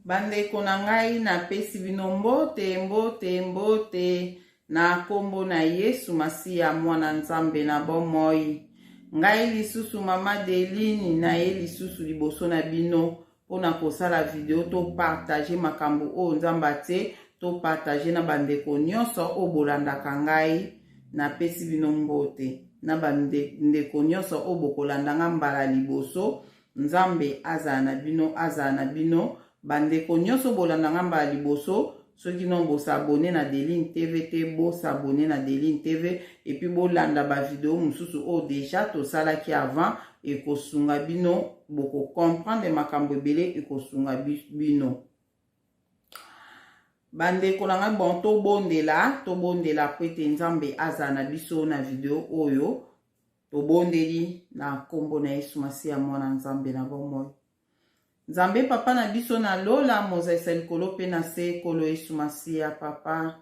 Bandeko na ngai napesi bino mbote mbote mbote na nkombo na Yesu Masiya mwana Nzambe na bomoi. Ngai lisusu mama Delini na ye lisusu liboso na bino mpo na kosala video to partage makambo oyo Nzambe atie to partage na bandeko nyonso oyo bolandaka ngai. Napesi bino mbote na bandeko nyonso oyo bokolanda ngai mbala liboso Nzambe azala na bino, azala na bino. Bandeko nyonso bolanda nga mbala liboso, soki non bo s'abonner na Deline TV te, bo s'abonner na Deline TV et puis bolanda ba video mosusu oyo oh, deja tosalaki avant ekosunga bino, boko comprendre makambo ebele ekosunga bino. Bandeko na ngai bon tobondela, tobondela po ete Nzambe azala na biso na video oyo. tobondeli na nkombo na yesu masiya mwana nzambe na bomoi nzambe papa na biso na lola mozalisa likolo mpe na se ekolo yesu masiya papa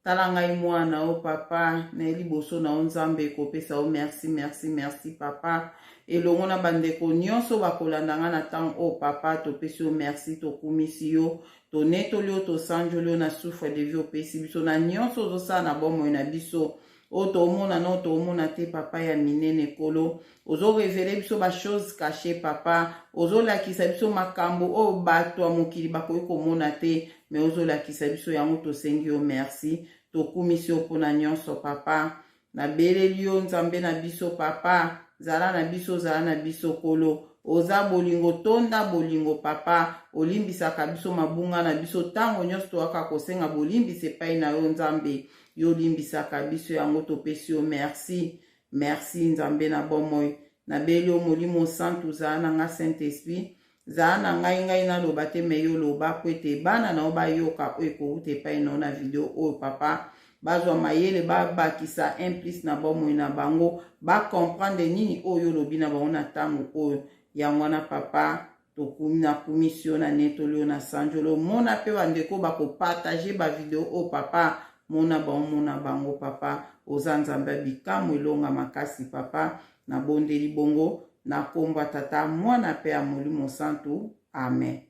tala ngai mwana o papa naye liboso na yo nzambe ekopesa yo merci merci merci papa elongo na bandeko nyonso bakolanda ngai na ntango oyo papa topesi yo merci tokumisi yo tonetoli yo tosanjoli yo na souffre de vie opesi biso na nyonso ozosala na bomoi na biso oyo oh, tomona na oyo oh, tomona te papa ya minene kolo ozorevele biso bachose cache papa ozolakisa biso makambo oyo oh, bato ya mokili bakoki komona te me ozolakisa biso yango tosengi yo merci tokumisi yo mpona nyonso papa nabeleli yo nzambe na biso papa zala na biso zala na biso kolo oza bolingo tonda bolingo papa olimbisaka biso mabunga na biso ntango nyonso toyaka kosenga bolimbisi epai na yo nzambe yo olimbisaka biso yango topesi yo merci merci nzambe na bomoi nabeli yo molimo santu zala na ngai saint esprit zala na ngai ngai naloba te me yo loba po ete bana na yo bayoka oyo ekowuta epai na yo na video oyo papa bazwa mayele babakisa implice na bomoi na bango bacomprendre nini oyo olobi na bango na ntango oyo yango wana papa tokumi na kumisi yo na netoli yo na sanjoli omona mpe bandeko bakopartage bavideo oyo oh, papa mona bango mona bango papa oza nzambe ya bikamwa elonga makasi papa nabondeli bongo na nkombo ya tata mwana mpe ya molimo santu amen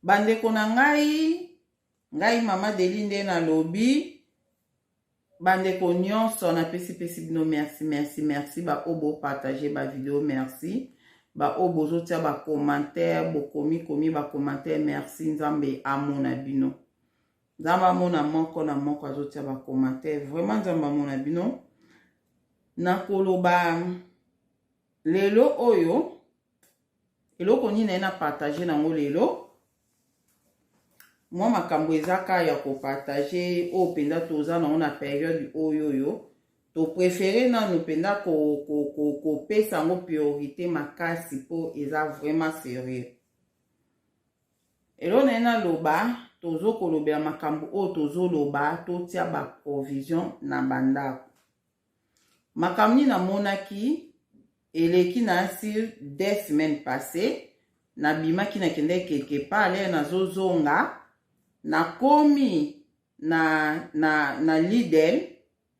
bandeko na ngai ngai mama deli nde nalobi Bandeko nyonso na pesi pesi bino merci merci merci ba oyo bo partager ba video merci ba oyo bozotia ba commentaire bokomi komi ba commentaire merci nzambe amona bino nzambe amona moko na moko azotia ba commentaire vraiment nzambe amona bino nakoloba lelo oyo eloko nini naye na partage na yango lelo mwa makambo eza ka ya kopartage oyo mpenza toza nango na periode oyo oyo toprefere nanu mpenza kopesa yango priorité makasi mpo eza vraiment serieux elo naye naloba tozokolobela makambo oyo tozoloba totia baprovision na bandako Makambo nini namonaki eleki na sur deux semaines passées nabimaki nakendeki quelque part lere nazozonga nakomi na, na, na lidel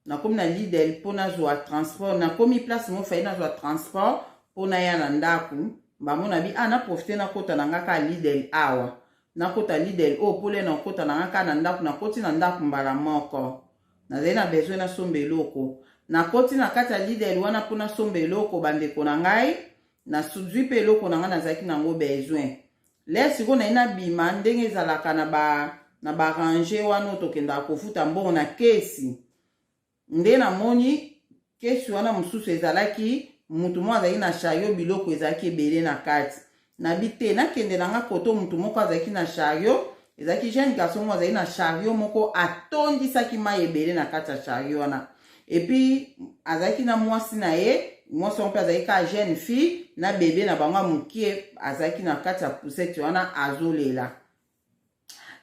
nakomi na lidel mpo nazwa transport nakomi place mo fai nazwa transport mpo naya na ndako bango na bi a ah, naprofite nakota na nga ka lidel awa nakota lidel oyo oh, mpo lere nakota na nga ka na ndako nakoti na ndako mbala moko Nazali na besoin nasomba eloko. Nakoti na kati ya Lidl wana mpo nasomba eloko bandeko na ngai. Nazwi mpe eloko na ngai nazalaki na yango besoin. Lere sikoyo naye nabima ndenge ezalaka na ba na ba range wana oyo tokendaka kofuta mbongo na kesi. Nde namoni Kesi wana mosusu ezalaki moto moko azalaki na shario, biloko ezalaki ebele na kati. Nabi te nakende na nga koto moto moko azalaki na shario, ezalaki jeune garçon moko azalaki na shario moko atondisaki mai ebele na kati ya shario wana. Epuis azalaki na mwasi na ye, mwasi yango mpe azalaki kaka jeune fille na bebe na bango ya mokie azalaki na kati ya poussette wana azolela.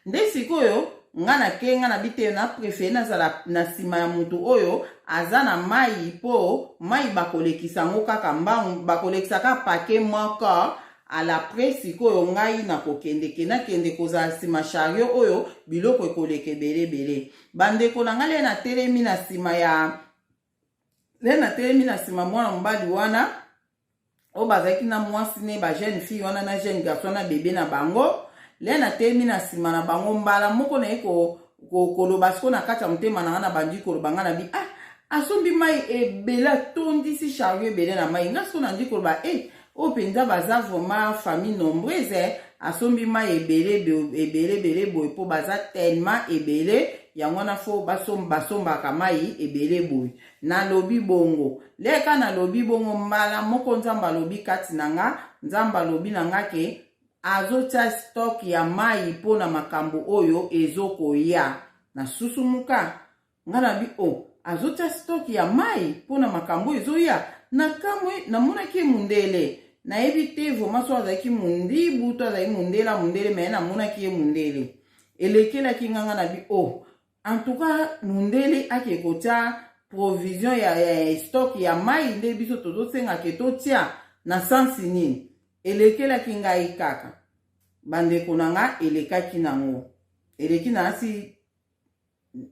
nde sikoyo nga na ke nga na biteyo na prefere nazala na nsima ya moto oyo aza na mai mpo mai bakolekisa yango kaka mbangu bakolekisa kaka pake moko alapre sikoyo ngai nakokendeke nakende kozala nsima shario oyo biloko ekoleka ebele ebele bandeko na ngai le natelemi na nsima ya nde natelemi na nsima mwana mobali wana oyo bazalaki na mwasi ne ba jeune fille wana na jeune garçon na bebe na bango le natelemi na nsima na bango mbala moko naye koloba siko na kati ya motema na nga na bandi koloba nga na bi ah asombi mai ebele atondisi chario ebele na mai nga siko nandi koloba e eh, Oyo penza baza vraiment famille nombreuse eh, asombi mai ebele ebele ebele boye po baza tellement ebele yango wana fo basombaka mai ebele boye nalobi bongo leka nalobi bongo mbala moko nzambe alobi kati na nga nzambe alobi na nga ke azotya stock ya mai mpo na makambo oyo ezokoya na susumuka nga na bi o oh, azotia stock ya mai mpo na makambo oyo ezoya na kamwe namonaki ye mundele nayebi te vraimen so azalaki mundibu to azalaki mundele mundele me namonaki ye mundele elekelaki nganga na bi o oh, en tout cas mundele ake kotia provision ya, ya, ya stock ya mai nde biso tozosengake totia na sansi nini elekelaki ngai kaka bandeko na nga elekaki nango eleki na asi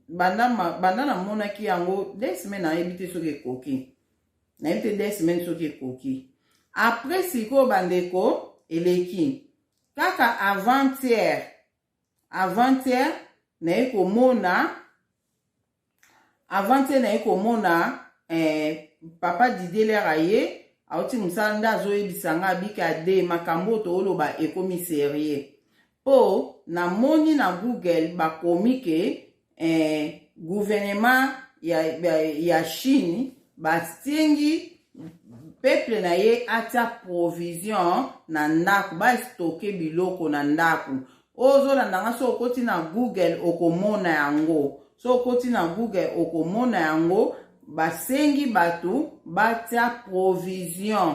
banda, banda namonaki yango deux semaine nayebi te soki ekoki nayebi te deux semaine soki ekoki après sikoyo bandeko eleki kaka avant-hier avant-hier naye komona avant-hier naye komona eh, papa dideler aye auti mosala nde azoyebisa nga abika de makambo oyo tooloba ekomi serie Po na moni na Google ba komi ke eh, gouvernement ya, ya, ya Chine ba sengi peuple na ye atia provision na ndako ba stocke biloko na ndako ozolanda nga so okoti na google okomona yango so okoti na google okomona yango basengi bato batia provision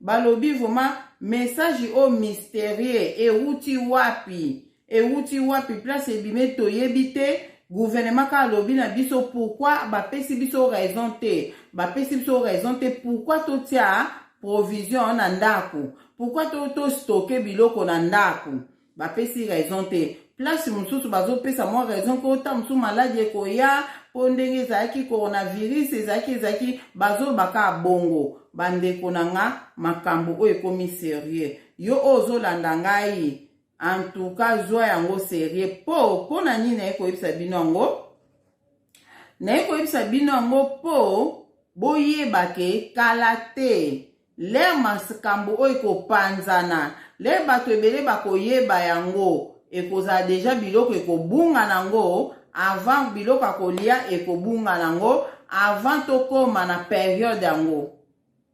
balobi vraiment message oyo mysterieux ewuti wapi ewuti wapi place ebime toyebi te gouvernement kaka alobi na biso pourkui bapesi biso raison te bapesi biso raison te pourkui totia provision na ndako pourkui tostoke biloko na ndako bapesi raison te place mosusu bazopesa mwa raison mpo ntango mosusu maladi ekoya mpo ndenge ezalaki coronavirus ezalaki ezalaki bazoloba kaka bongo bandeko na nga makambo oyo ekomi serieux yo oyo ozolanda ngai antuka zwa yango serieux mpo mpo na nini naye koyebisa bino yango naye koyebisa bino yango mpo boyeba ke kala te Lere makambo oyo ekopanzana, lere bato ebele bakoyeba yango, ekozala deja biloko ekobunga nango avant biloko ya kolia ekobunga nango avant tokoma na periode yango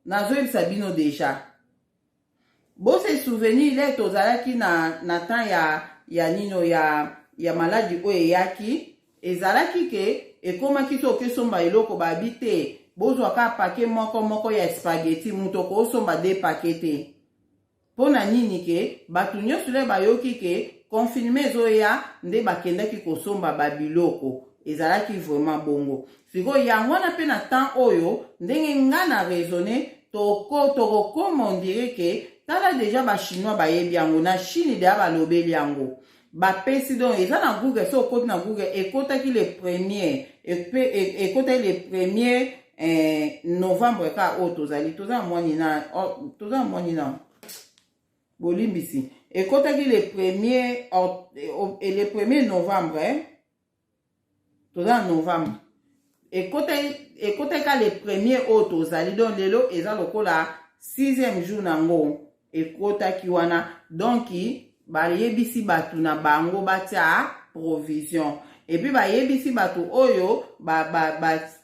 nazoyebisa bino deja bose souvenir le tozalaki na, na temps ya ya nino ya, ya maladi oyo eyaki Ezalaki ke ekomaki to oke somba eloko ba bi te bozwa ka pake moko moko ya spaghetti moto ko somba de pake te. Mpo na nini ke bato nyonso le bayoki ke confinement ezoya nde bakendaki kosomba ba biloko. Ezalaki vraiment bongo. Sikoyo yango wana mpe na temps oyo ndenge nga na raisonner toko tokokoma on dirait ke tala dejà ba chinois bayebi yango na chine dejà balobeli yango. bapesi donc eza na google so okoti na google ekotaki le premier ekotaki le premier eh, novembre kaka oyo tozali toza na mwani na oh, toza na mwani na bolimbisi ekotaki le premier eh, le premier novembre eh? toza na novembre ekotaki ka le premier oyo tozali donc lelo eza lokola sixième jour na yango ekotaki wana donc bayebisi bato na bango batya provision epuis bayebisi bato oyo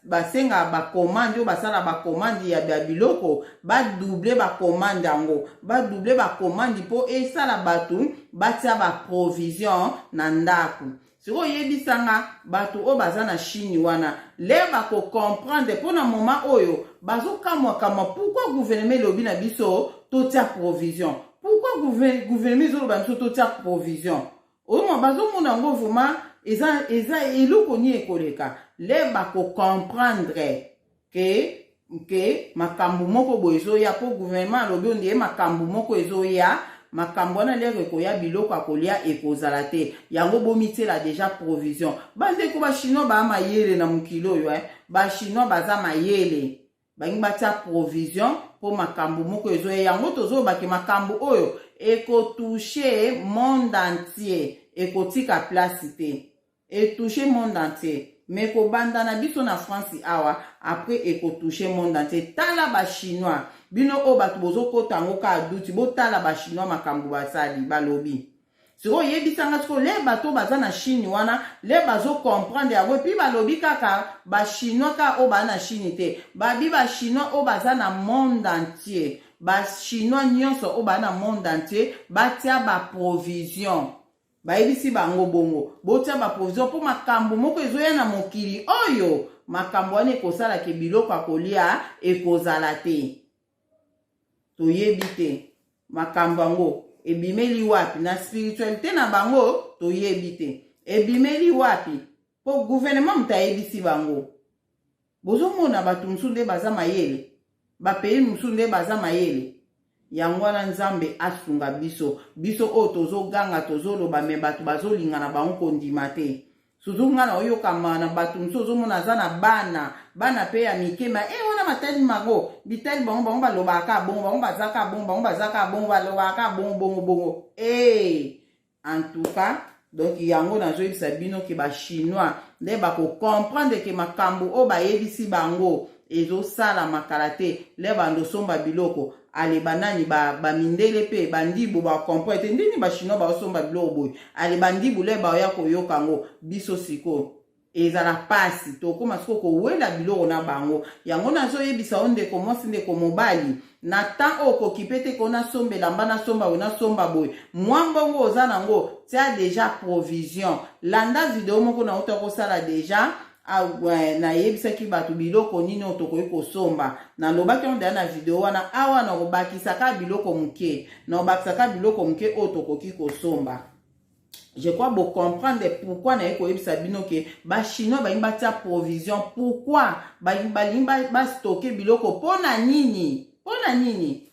basenga bakomande oyo basala bakomande ya biloko badouble bakomande yango badouble bakomande mpo esala bato batya baprovision na ndako sikoyo yebisa nga bato oyo baza na chine wana lere bakocomprendre mpo na moma oyo bazokamwakamwa pourkui guvernema elobi na biso totya provision pourkui guvernema ezoloba biso totya provision oyoma bazomona yango vraimen eza eza eloko nini ekoleka lere bakocomprendre ke ke makambo moko boye ezoya mpo gouvernement alobi ondie makambo moko ezoya makambo wana lere ekoya biloko ya kolia ekozala te yango bomityela deja provision bandeko bachinois baa mayele na mokili oyo eh? bachinois baza mayele balingi batya provision mpo makambo moko ezoya yango tozolobake makambo oyo ekotushe monde entier ekotika place te E touche monde entier. Mais ko banda na biso na France awa, après e ko touche monde entier. Tala ba chinois, bino oyo batu bozo kota yango ka duti, bo tala ba chinois makambu ba sali, ba lobi. Siko yebisa nga siko le bato baza na Chine wana le bazo comprendre yango epi balobi kaka ba chinois ka oyo baa na Chine te babi ba chinois oyo baza na monde entier ba chinois nyonso oyo baa na monde entier batia ba provision bayebisi bango bongo botya baprovision mpo makambo moko ezoya na mokili oyo makambo wana ekosala ke biloko ya kolia ekozala te toyebi te makambo yango ebimeli wapi na spiritualite na bango toyebi te ebimeli wapi mpo guvernema moto ayebisi bango bozomona bato mosusu nde baza mayele bapays mosusu nde baza mayele yango wana nzambe asunga biso biso oyo tozoganga tozoloba me bato bazolinga na bango kondima te suzu ngai na oyokama na bato mosusu ozomona aza na bana bana mpe ya mike ma e eh, wana matali mango bitali bango bango balobaka bongo bango bazaka bongo bango bazaka bongo balobaka bongo bongo bongo ee eh, en tout cas donc yango nazoyebisa bino ke bachinois nde bakocomprendre ke makambo oyo bayebisi bango ezosalama kala te le bando osomba biloko ale banani bamindele ba mpe bandibu bacomprendre te ndini bachinois baosomba biloko boye ale bandibu le baoya koyoka yango biso sikoyo ezala mpasi tokóma sikoyo kowela biloko na bango yango nazoyebisa yo ndeko mwasi ndeko mobali na ntan oyo kokipe te ko nasomba elamba nasomba boye nasomba boye mwa mbongo oza nango tia deja provision landa video moko na uta kosala deja Ah, nayebisaki bato biloko nini oyo tokoki kosomba nalobaki yango deya na video wana awa nakobakisaka biloko moke nakobakisaka biloko moke oyo tokoki kosomba je crois bo comprendre pourquoi naye koyebisa bino ke bachinois balingi batia provision pourquoi balingi bastoke biloko mpo na nini mpo na nini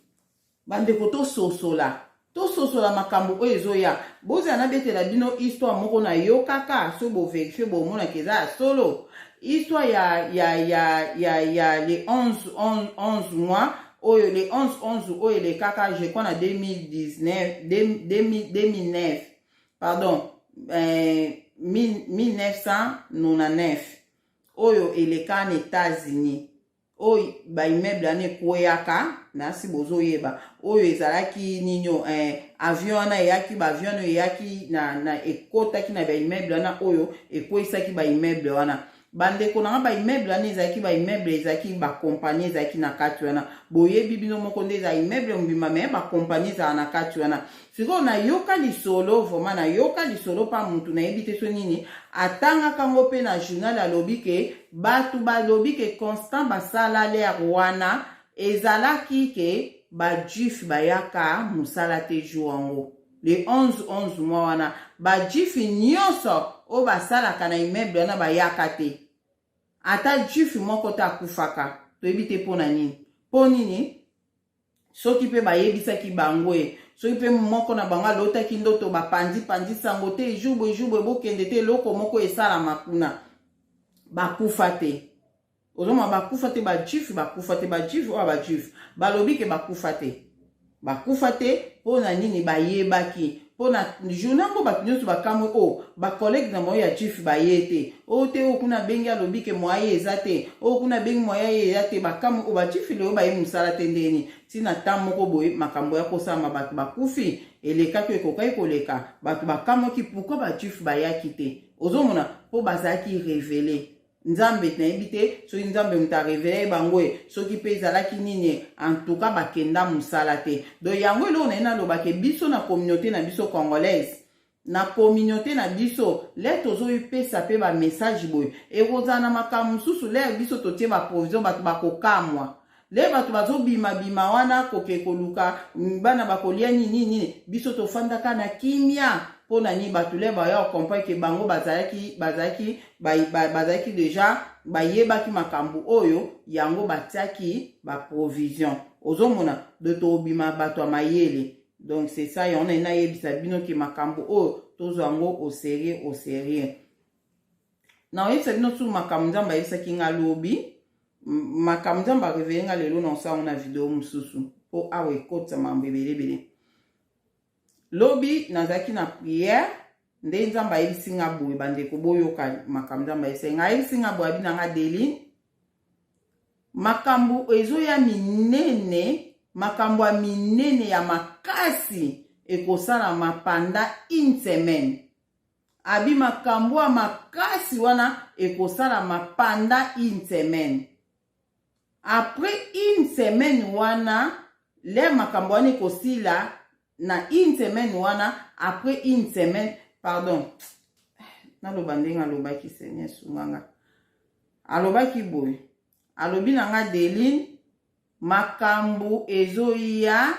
bandeko tososola tososola makambo oyo ezoya bozala nabetela bino histoire moko nayokaka soki boverifie bomonaka eza ya solo histoire ya, ya, ya, ya, ya le 11, 11, 11 mois oyo le 11 11 oyo elekaka je crois na 2019 2009 pardon euh, 1999 oyo eleka na états-unis oyo baimmeuble wana ekweyaka nasi bozoyeba oyo ezalaki nini eh, avion wana eyaki baavion oyo eyaki na, na ekotaki na baimmeuble wana oyo ekweisaki baimmeuble wana bandeko na nga baimmeuble wana ezalaki baimmeuble ezalaki bakompani ezalaki na kati wana boyebi bino moko nde eza immeuble mobimba me bakompani ezala na kati wana sikoyo nayoka lisolo vraimen nayoka lisolo mpa motu nayebi te so nini atangaka ngo mpe na journal alobi ke bato balobi ke constant basalalere wana ezalaki ke bajuif bayaka mosala te jour yango le 11 11 mwa wana bajifi nyonso oyo basalaka na immeuble wana bayaka te ata jifi moko te akufaka toyebi te mpo na nini mpo nini soki mpe bayebisaki bango ye soki mpe moko na bango alotaki ndoto bapanzi panzi sango te ejour boejour boye bokende te eloko moko esalama kuna bakufa te ozomona bakufa te bajuif bakufa te bajuif oyo bajuif balobi ke bakufa te bakufa te mpo na nini bayebaki mpo na journa yango bato nyonso bakamwi o oh, bacollege na bango ya juif baye te o oh, te oyo oh, kuna abengi alobi ke mwaye eza te oyo kuna abengi mwaya ye eza te bakamwi o bajuif lelo baye mosala te ndeni ntina ntango moko boye makambo ya kosalama bato bakufi elekaki oyo ekokaki koleka bato bakamwaki pourkui bajuif bayaki te ozomona mpo bazalaki revele nzambe nayebi te soki nzambe moto areveye bango e soki mpe ezalaki nini e antuka bakenda mosala te don yango eloko naye nalobake biso na communauté na biso congolaise na communauté na biso lere tozoyipesa mpe bamessage boye ekozala na makambo mosusu lere biso totie baprovision bato bakokamwa le bato bazobimabima wana koke koluka mm, bana bakolia nini nini biso tofandaka na kimia mpo na nini bato le baya okomprendre ke bango bazalaki bazalaki bazalaki deja bayebaki makambo oyo yango batiaki baprovision ozomona do tobima bato ya mayele donc c'est ça yango nayebisa bino ke makambo oyo tozwa yango au sérieux au sérieux nakoyebisa bino tu makambo nzambe ayebisaki nga lobi makambo nzambe arevele nga lelo na osala ngo na video mosusu mpo awa ekotisa makambo ebelebele lobi nazalaki na priere nde nzambe ayebisi nga boye bandeko boyoka makambo nzambe ayebisaki nga ayebisi nga boye abi na nga deli makambo ezoya minene makambo ya minene ya makasi ekosalama panda une semaine abi makambo ya makasi wana ekosalama pendant une semaine après une semaine wana le makambo wana ekosila na une semaine wana après une semaine pardon naloba ndenge alobaki seigneur sunganga alobaki boye alobi na nga deline makambo ezoya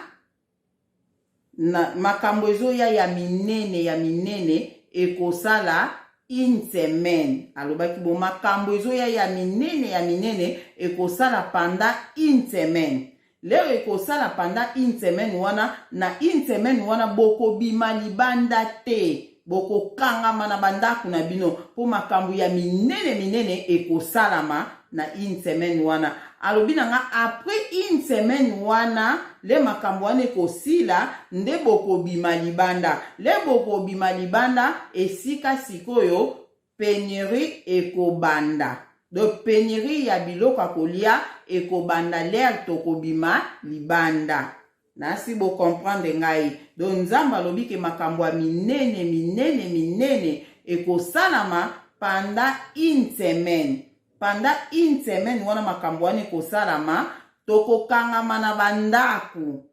na makambo ezoya ya minene ya minene ekosala une semaine alobaki bo makambo ezoya ya minene ya minene ekosala panda une semaine leo ekosala panda une semaine wana na une semaine wana bokobima libanda te bokokangama na bandako na bino mpo makambo ya minene minene ekosalama na une semaine wana alobi na nga après une semaine wana le makambo wana ekosila nde bokobima libanda le bokobima libanda esika sikoyo penurie ekobanda do penurie ya biloko ya kolia ekobanda lere tokobima libanda Nasi bo comprendre ngai. Donc Nzambe alobi ke makambo ya minene minene minene ekosalama pendant une semaine. Pendant une semaine wana makambo wana ekosalama, tokokangama na bandako.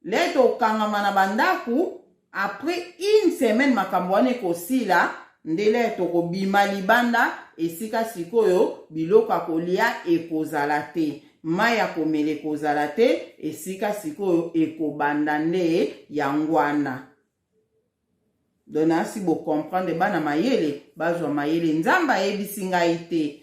Le tokokangama na bandako, Après une semaine makambo wana ekosila ndele tokobima libanda esika sikoyo biloko ya kolia ekozala te mai ya komela ekozala te esika sikoyo ekobanda nde yango wana don asi bocomprendre bana mayele bazwa mayele nzambe ayebisi ngai te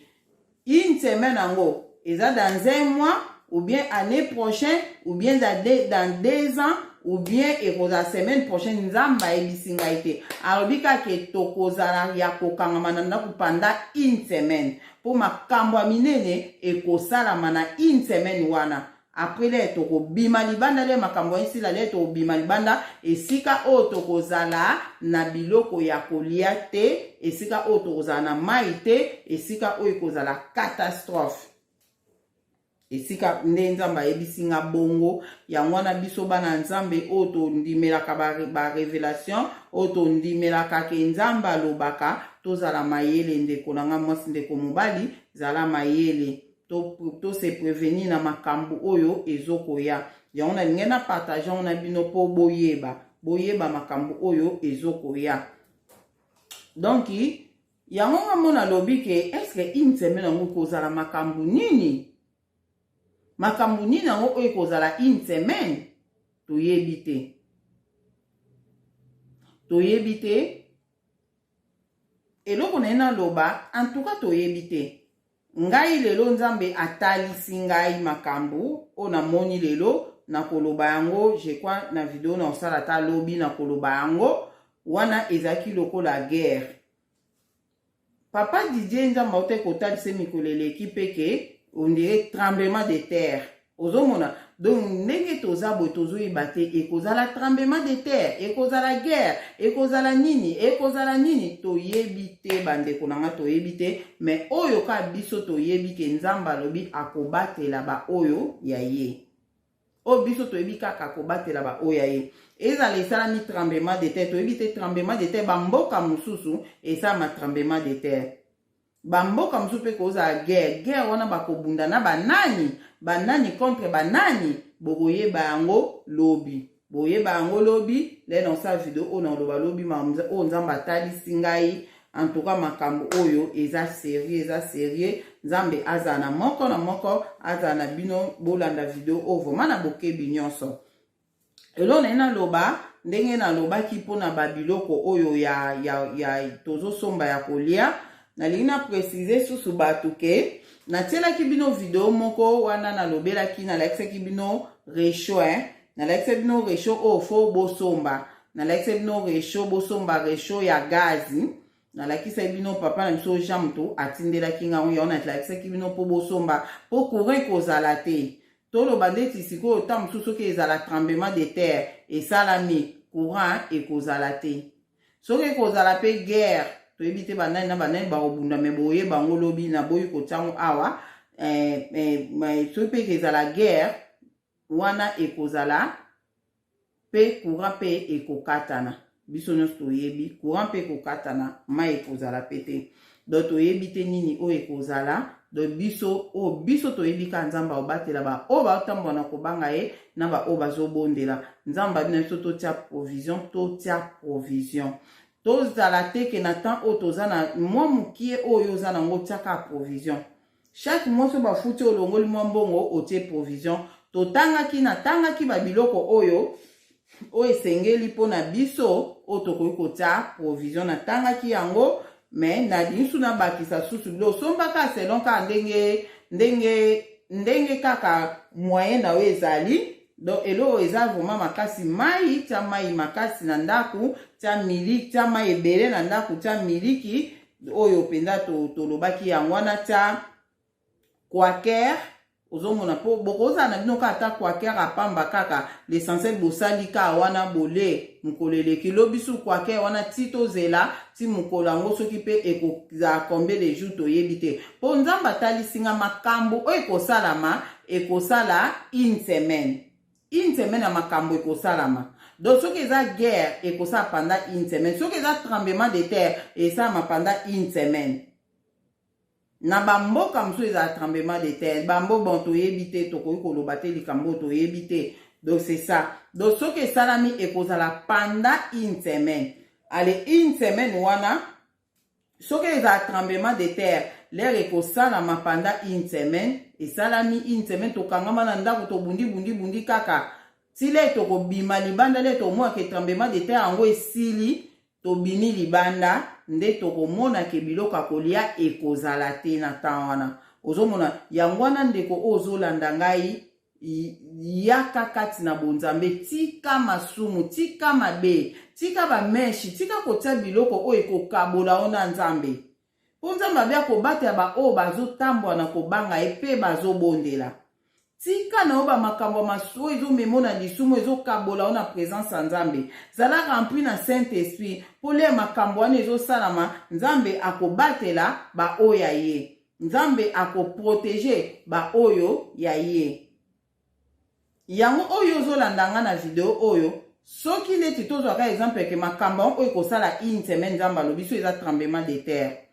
Une semaine yango eza dans un mois ou bien année prochaine ou bien dans deux, dans deux ans ou bien ekozala semaine prochaine nzambe ayebisi ngai te alobi kaka tokozala ya kokangama na ndako panda une semaine mpo makambo ya minene ekosalama na une semaine wana apres lele tokobima libanda lele makambo esila lele tokobima libanda esika oyo tokozala na biloko ya kolia te esika oyo tokozala na mai te esika oyo ekozala catastrophe esika nde nzambe ayebisi nga bongo yango wana biso bana nzambe oyo tondimelaka barevelation ba oyo tondimelaka ke nzambe alobaka tozala mayele ndeko na nga mwasi ndeko mobali zala mayele to se prevenir na makambo oyo ezokoya yango na lingai na partage yango na bino mpo boyeba boyeba makambo oyo ezokoya donc yango nga mona alobi ke eske une semaine yango kozala makambo nini makambo nini yango oyo ekozala une semaine toyebi te toyebi te eloko na ye naloba antuka toyebi te Ngai lelo Nzambe atalisi ngai makambo oyo namoni lelo nakoloba yango je crois na video na osala ta lobi nakoloba yango wana ezalaki lokola guerre papa Didier Nzambe autai kotalisa mikolo eleki mpe ke ondire tremblement de terre ozomona donc ndenge toza boye tozoyeba te ekozala tremblement de terre ekozala guerre ekozala nini ekozala nini toyebi te bandeko na ngai toyebi te me oyo ka biso toyebi ke nzambe alobi akobatela baoyo ya ye oyo biso toyebi kaka akobatela baoyo ya ye ezala esalami tremblement de terre toyebi te tremblement de terre bamboka mosusu esalama tremblement de terre bamboka mosusu mpe kozala guerre guerre wana bakobunda na banani banani contre banani bokoyeba yango lobi boyeba yango lobi le nasala video oyo nakoloba lobi oyo nzambe atalisi ngai antuka makambo oyo eza serie eza serie nzambe azala na moko na moko azala na bino bolanda video oyo vraimen na bokebi nyonso eloo naye naloba ndenge nalobaki mpo na babiloko oyo ya, ya, ya tozosomba ya kolia nalingi na précise susu bato ke natielaki bino video moko wana nalobelaki nalakisaki bino recho eh? nalakisaki bino recho oyo fo bosomba nalakisaki bino recho bosomba recho ya gazi nalakisaki bino papa na biso jean moto atindelaki ngai yango nalakisaki bino mpo bosomba mpo courant ekozala te toloba ndeti sikoyo ntango mosusu soki ezala tremblement de terre esalami courant ekozala te soki ekozala mpe guerre toyebi te banani na banani bakobunda me boye bango lobi naboyi kotiango awa eh, eh, soki mpe ekezala guerre wana ekozala Pe courant pe ekokatana. Biso nionso toyebi courant pe ekokatana, mayi ekozala pe te. Donc toyebi te nini oyo ekozala. Donc biso oyo biso toyebi kaka Nzambe akobatela ba oyo baotambola na kobanga ye na ba oyo bazobondela. Nzambe abi na biso totia provision, totia provision. Tozala te ke na temps oyo toza na mwa mukie oyo oza na yango otia kaka provision. Chaque mois so bafuti olongoli mwa mbongo otie provision. Totangaki natangaki ba biloko oyo oyo esengeli mpo na biso oyo tokoki kotya provision natangaki yango me nalingi nabakisa susu bilo osombaka selon kaka ndenge ndenge ndenge kaka moyen na yo ezali donc eloko eza vraiment makasi mai tya mai makasi na ndako tya miliki tya mai ebele na ndako tya miliki oyo mpenza tolobaki to yango wana tya quaker ozomona mpo bokozala na bino kaka ata quaker apamba kaka l'essentiel bosali kaka wana bole mokolo eleki lobi su quaker wana ti tozela ti mokolo yango soki mpe ekozala combien de jour toyebi te mpo nzambe atalisi nga makambo oyo ekosalama ekosala une semaine une semaine ya makambo ekosalama donc soki eza guerre ekosala pendant une semaine soki eza tremblement de terre esalama pendant une semaine na bamboka mosusu ezala tremblement de terre bambo bon toyebi te tokoki koloba te likambo oyo toyebi te donc c'est ça donc soki esalami ekozala pendant une semaine ale une semaine wana soki ezala tremblement de terre lere ekosalama panda une semaine esalami une semaine tokangama na ndako tobundi bundi bundi kaka ti lere tokobima libanda lere tokomona ke tremblement de terre yango esili tobimi libanda nde tokomona ke biloko ya kolia ekozala te na temps wana ozomona yango wana ndeko oyo ozolanda ngai yaka kati na bonzambe tika masumu tika mabe tika bameshi tika kotia biloko oyo ekokabola yo na nzambe mpo nzambe abe akobatela baoyo bazotambwa na kobanga ye mpe bazobondela tika na yo bamakambo ya masu oyo ezomema na lisumu ezokabola yo na presence ya nzambe zala rempli na saint esprit mpo lia makambo wana ezosalama nzambe akobatela baoyo ya ye nzambe akoprotege baoyo ya ye yango oyo ozolanda nga na video oyo soki neti tozwaka exemple ke makambo yango oyo ekosala une semaine nzambe alobi so eza tremblement de terre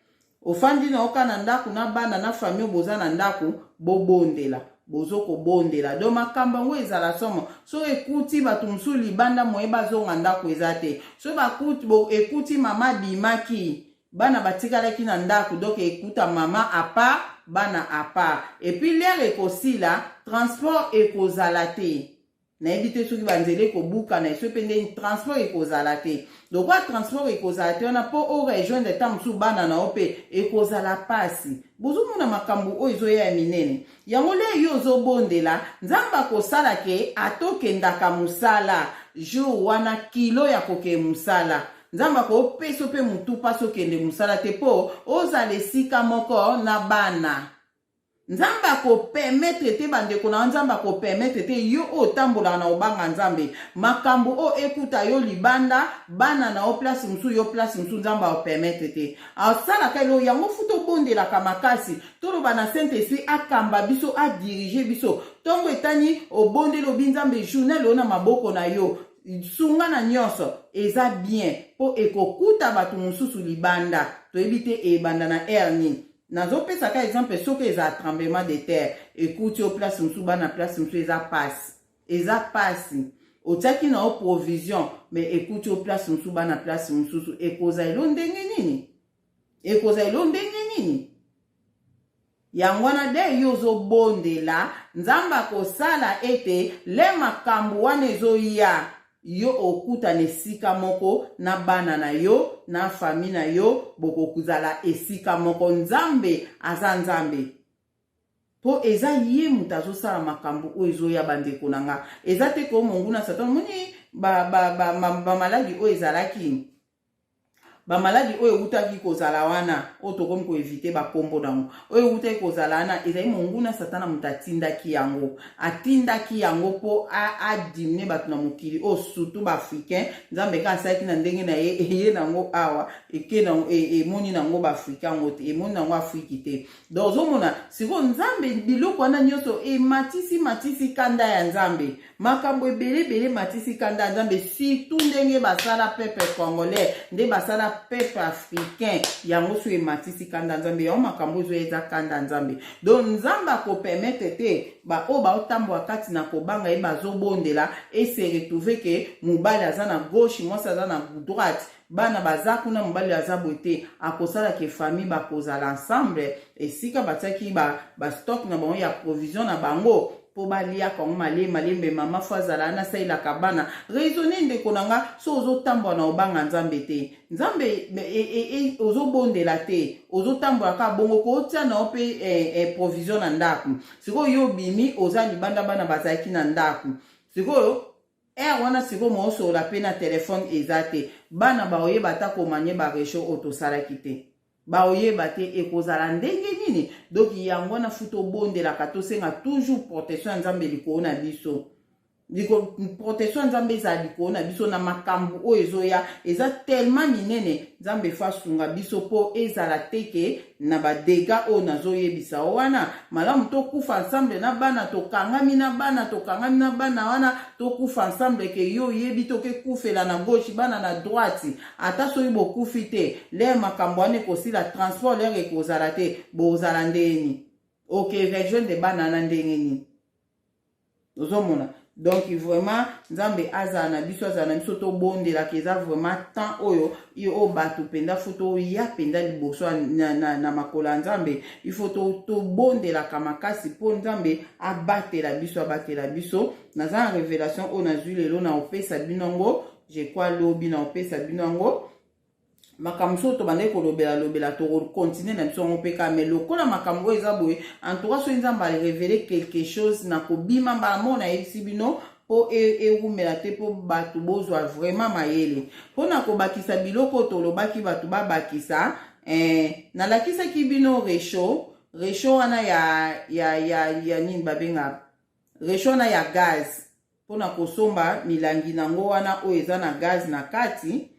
ofandi na oka na ndako na bana na famille boza na ndako bobondela bozo kobondela do makambo yango ezala somo so ekuti bato mosusu libanda moye bazonga ndako eza te so bakuti ekuti mama abimaki bana batikalaki na ndako donc ekuta mama apart bana apart epuis lere ekosila transport ekozala te nayebi te soki banzela ekobuka na eso mpe ndeni transport ekozala te lokola transport ekozala te wana mpo o rejoindre ntango mosusu bana na yo mpe ekozala mpasi bozomona makambo oyo ezoya ya minene yango le yo ozobondela nzambe akosala ke atokendaka mosala jour wana kilo ya kokee mosala Nzambe akopesa mpe motu mpasi okende mosala te mpo ozala esika moko na bana. Nzambe akopermetre te bandeko na yo, Nzambe akopermetre te yo oyo otambolaka na kobanga Nzambe, makambo oyo ekuta yo libanda, bana na yo place mosusu, yo place mosusu, Nzambe akopermetre te. Asalaka elo yango futa obondelaka makasi, toloba na Saint Esprit akamba biso, adirige biso. Ntongo etani obondeli obi Nzambe journal oyo na maboko na yo. sunga na nyonso eza bien mpo ekokuta bato mosusu libanda toyebi te ebanda na aire nini nazopesa ka exemple soki eza tremblement de terre ekuti yo place mosusu bana place mosusu eza pasi eza pasi otiaki na yo provision me ekuti yo place mosusu bana place mosusu ekozala elo ndenge nini ekozala elo ndenge nini yango wana de yo ozobondela nzambe akosala ete le makambo wana ezoya yo okutana esika moko na bana na yo na fami na yo bokozala esika moko nzambe aza nzambe mpo eza ye moto azosala makambo oyo ezoya bandeko na nga eza te koo monguna satan omoni bamaladi ba, ba, ba, ba oyo ezalaki bamaladi oyo ewutaki kozala wana oyo tokomi koevite bakombo nango oyo ewutaki kozala wana ezali monguna satana moto atindaki yango atindaki yango mpo adimine bato na mokili oyo surtout baafricain nzambe kaka asalaki na ndenge na ye eye nango awa eke nango e, emoni nango baafrika yango te emoni nango afriki te donc ozomona sikoyo nzambe biloko wana nyonso ematisi matisi kanda ya nzambe makambo ebele ebele matisi kanda ya nzambe surtout ndenge basala peuple congolais nde basala peuple africain yango soki ematisi kanda ya nzambe yango makambo oyo ezoya eza kanda ya nzambe donc nzambe akopermetre te baoyo baotambola kati na kobanga ye bazobondela ese retrouve ke mobali aza na gauche mwasi aza na droite bana baza kuna mobali aza boye te akosala ke famille bakozala ensemble esika batiaki bastock ba na bango ya provision na bango mpo baliaka yango malembe malembe mama fo azala wana asalelaka bana raisonne ndeko na nga so ozotambola na obanga nzambe te nzambe e, e, e, ozobondela te ozotambola kaka bongo kotia na yo mpe eh, eh, provision na ndako sikoyo yo obimi oza libanda bana bazalaki na ndako sikoyo Heure wana sikoyo mosolola pe na telephone eza te. Bana baoyeba ata komanye ba rechaud oyo tosalaki te. Baoyeba te ekozala ndenge nini? Donc yango wana fu tobondelaka tosenga toujours protection ya Nzambe likolo na biso. protection ya nzambe ezala likolo na biso na makambo oyo ezoya eza tellement minene nzambe fo asunga biso mpo ezala te ke na badega oyo nazoyebisa yo wana malamu tokufa ensemble na bana tokangami na bana tokangami na bana wana tokufa ensemble ke yo oyebi tokekufela na gauche bana na droite ata soki bokufi te lere makambo wana ekosila transport lere ekozala te bozala ndenge nini oke rejoindre bana na ndenge nini ozomona donc vraiment nzambe azala na biso azala na biso tobondelaka eza vraiment temps oyo oyo bato mpenza fo toya mpenza liboso na, na, na makolo ya nzambe ifo tobondelaka to makasi mpo nzambe abatela biso abatela biso naza na révélation oyo nazwi lelo na opesa bino yango je crois lobi na opesa bino yango makambo soki tobandaki kolobela lobela tokokontinue na biso yango mpe kaka mai lokola makambo oyo eza boye entoura soki nzambe arevele quelque chose na kobima mbala moko nayebisi bino mpo ewumela e te mpo bato bozwa vraiment mayele mpo na kobakisa biloko oyo tolobaki bato babakisa eh, nalakisaki bino recho recho wana ya, ya, ya, ya nini babengaka recho wana ya gaz mpo na kosomba milangi na yango wana oyo eza na gaz na kati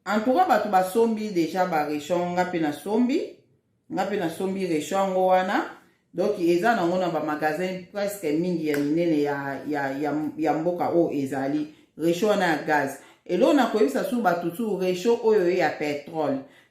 antuka bato basombi deja barechon nga mpe nasombi nga mpe nasombi rechon yango wana donk eza nango na bamagasin presque mingi ya minene ya, ya, ya, ya mboka oyo ezali rechon wana ya gaz eloo na koyebisa su bato su rechon oyo ye ya petrole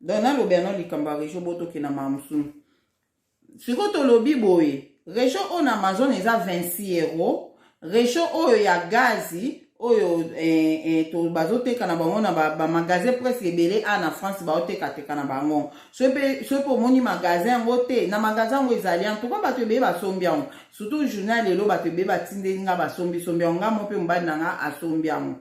donc nalobi yango likambo ya regio bo tokende na makambo mosusu sikoyo tolobi boye regio oyo na amazon eza 26 euro regio oyo ya gazi oyo eh, eh, to bazoteka na bango na bamagasin ba presque ebele a na france baotekateka na bango soki mpe omoni magasin yango te na magasin yango ezali en touka bato ebele basombi yango surtout journal lelo bato ebele batindeli nga basombisombi yango nga mo mpe mobali na nga asombi yango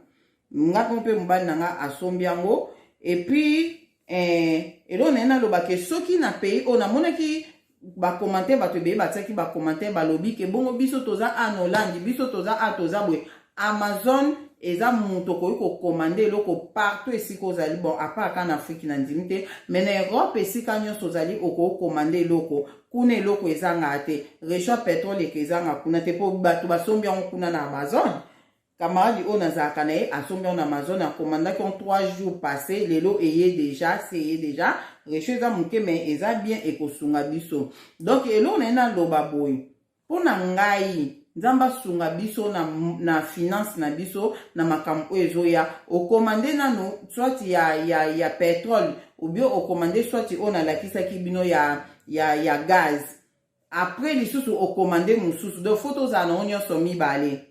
nga ko mpe mobali na nga asombi yango epuis eh, eloko na ye nalobake soki na pays oyo namonaki bacommentaire bato ebele batiaki bacommentaire balobi ke bongo biso toza a na olandi biso toza a toza boye amazon eza moto okoki kokomande eloko partout esika ozali bon apart ka na afriki na ndimi te mai na europe esika nyonso ozali okoki komande eloko kuna eloko ezanga te recho petrole eke ezanga kuna te mpo bato basombi yango kuna na amazon Camarade oyo nazalaka na ye asombi yango na Amazon akomandaki en 3 jours passé lelo eye deja se eye deja recho eza moke me eza bien ekosunga biso donc eloko na ye naloba boye mpo na ngai nzambe asunga biso na, na finance na biso na makambo oyo ezoya okomande nano swati ya, ya, ya petrole obio okomande swati oyo nalakisaki bino ya, ya, ya gaz apres lisusu okomande mosusu donc fo tozala nango nyonso mibale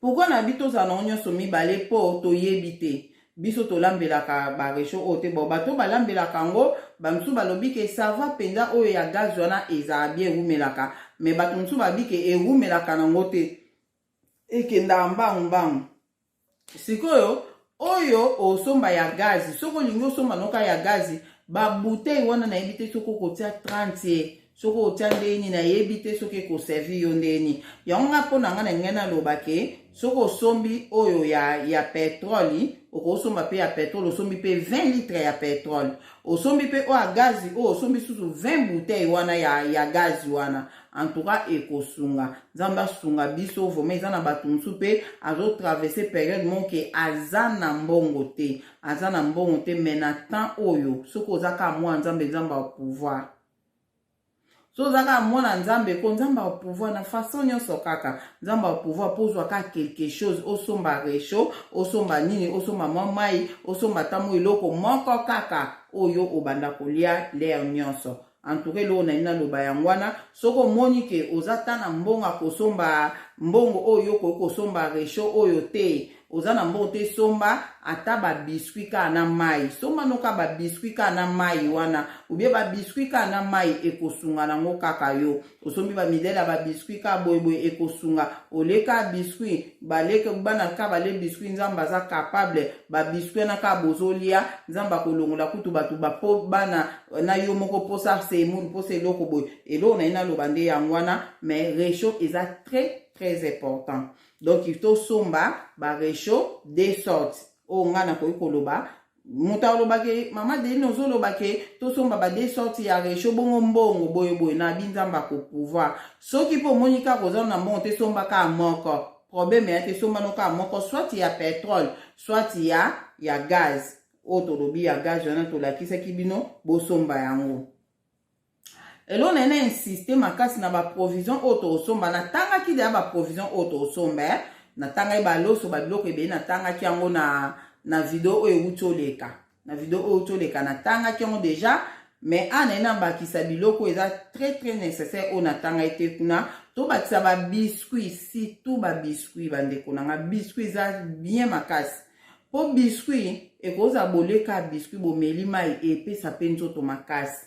Pourquoi na bi tozala nango nyonso mibale po toyebi te biso tolambelaka ba rechaud oyo te bon bato balambelaka yango bamosusu balobi ke sava mpenza oyo ya gaz wana ezala bie ewumelaka me bato mosusu babi ke ewumelaka nango te ekendaka mbangu mbangu sikoyo oyo osomba ya gazi soki olingi osomba noka ya gazi babutei wana nayebi te soki okotia 30 soki otya ndenge nini nayebi te soki ekoservi yo ndenge nini yango nga mpo na ngai na ngai naloba ke soki osombi oyo ya, ya petroli okosomba mpe ya petrole osombi mpe 20 litre ya petrole osombi mpe oyo ya gazi oyo osombi susu 20 bouteille wana ya, ya gazi wana en tout cas ekosunga nzambe asunga biso vrema eza na bato mosusu mpe azotraverse periode moko ke aza na mbongo te aza na mbongo te mai na temps oyo soki oza kaka mwana nzambe nzambe ya pouvoir so oza kaka mwana nzambe ko nzambe ya pouvoir na façon nyonso kaka nzambe ya pouvoir mpo ozwa kaka quelque chose osomba recho osomba nini osomba mwa mai osomba ntango eloko moko kaka oyo obanda kolia lere nyonso En tout cas, eloko na nina loba yango wana soki omoni ke oza ta na mbongo akosomba mbongo oyo okoki kosomba recho oyo te oza na mbongo te somba ata babiskuit kaka na mai somba noka babiskuit kaka na mai wana ubie babiskuit kaka na mai ekosunga nango kaka yo osombi ba midele ya ba biscuit ka boye boye ekosunga olie ka biscuit baleke bana ka balie biscuit nzambe aza capable ba biscuit wana ka bozolia nzambe akolongola kutu bato bapo bana na yo moko mposa semour mposa eloko boye eloko na ye naloba nde yango wana mais recho eza très très important donc tosomba ba recho de sorte oyo ngai nakoki koloba moto aloba ke mama deline ozoloba ke tosomba ba de sorte ya recho bongo mbongo boye boye na bi nzambe akopouvoir soki mpe omoni kaka oza na mbongo te somba kaka moko probleme ya te somba no kaka moko soit ya petrole soit ya ya gaz oyo tolobi ya gaz wana tolakisaki bino bosomba yango eloo na ye na insiste makasi na baprovision oyo tokosomba natangaki deya baprovision oyo tokosomba eh? natangaki baloso babiloko ebele natangaki yango na, na video oyo euti oleka na video oyo euti oleka natangaki yango deja mais a naye nabakisa biloko eza très très nécessaire oyo natangaki te kuna tobakisa babiscuit surtout babiscuit bandeko na nga biscuit eza bien makasi mpo biscuit ekozala boleka biscuit bomeli mai epesa mpe nzoto makasi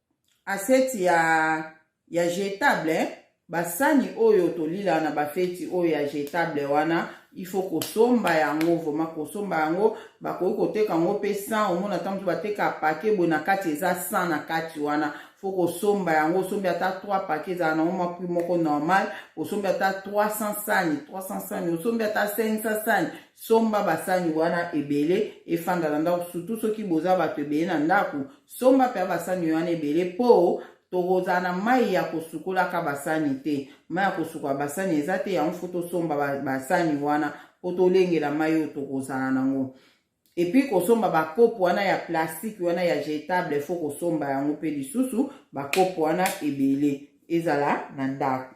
Assiette ya, ya jetable eh? basani oyo tolila na bafeti oyo ya jetable wana il faut kosomba yango vrema kosomba yango bakoki koteka yango mpe 100 omona ntango mosusu bateka pake boye na kati eza 100 na kati wana fo kosomba yango osombi ata 3 pake ezala nango mwa prix moko normal osombi ata 300 sani 300 sani osombi ata 500 sani somba basani wana ebele efanda na ndako surtout soki boza bato ebele na ndako Somba mpe basani wana ebele mpo tokozala na mai ya kosukolaka basani te mai ya kosukola basani eza te yango fo tosomba basani wana mpo tolengela mai oyo tokozala nango epuis kosomba bakopo wana ya plastike wana ya jetable fo kosomba yango mpe lisusu bakopo wana ebele ezala na ndako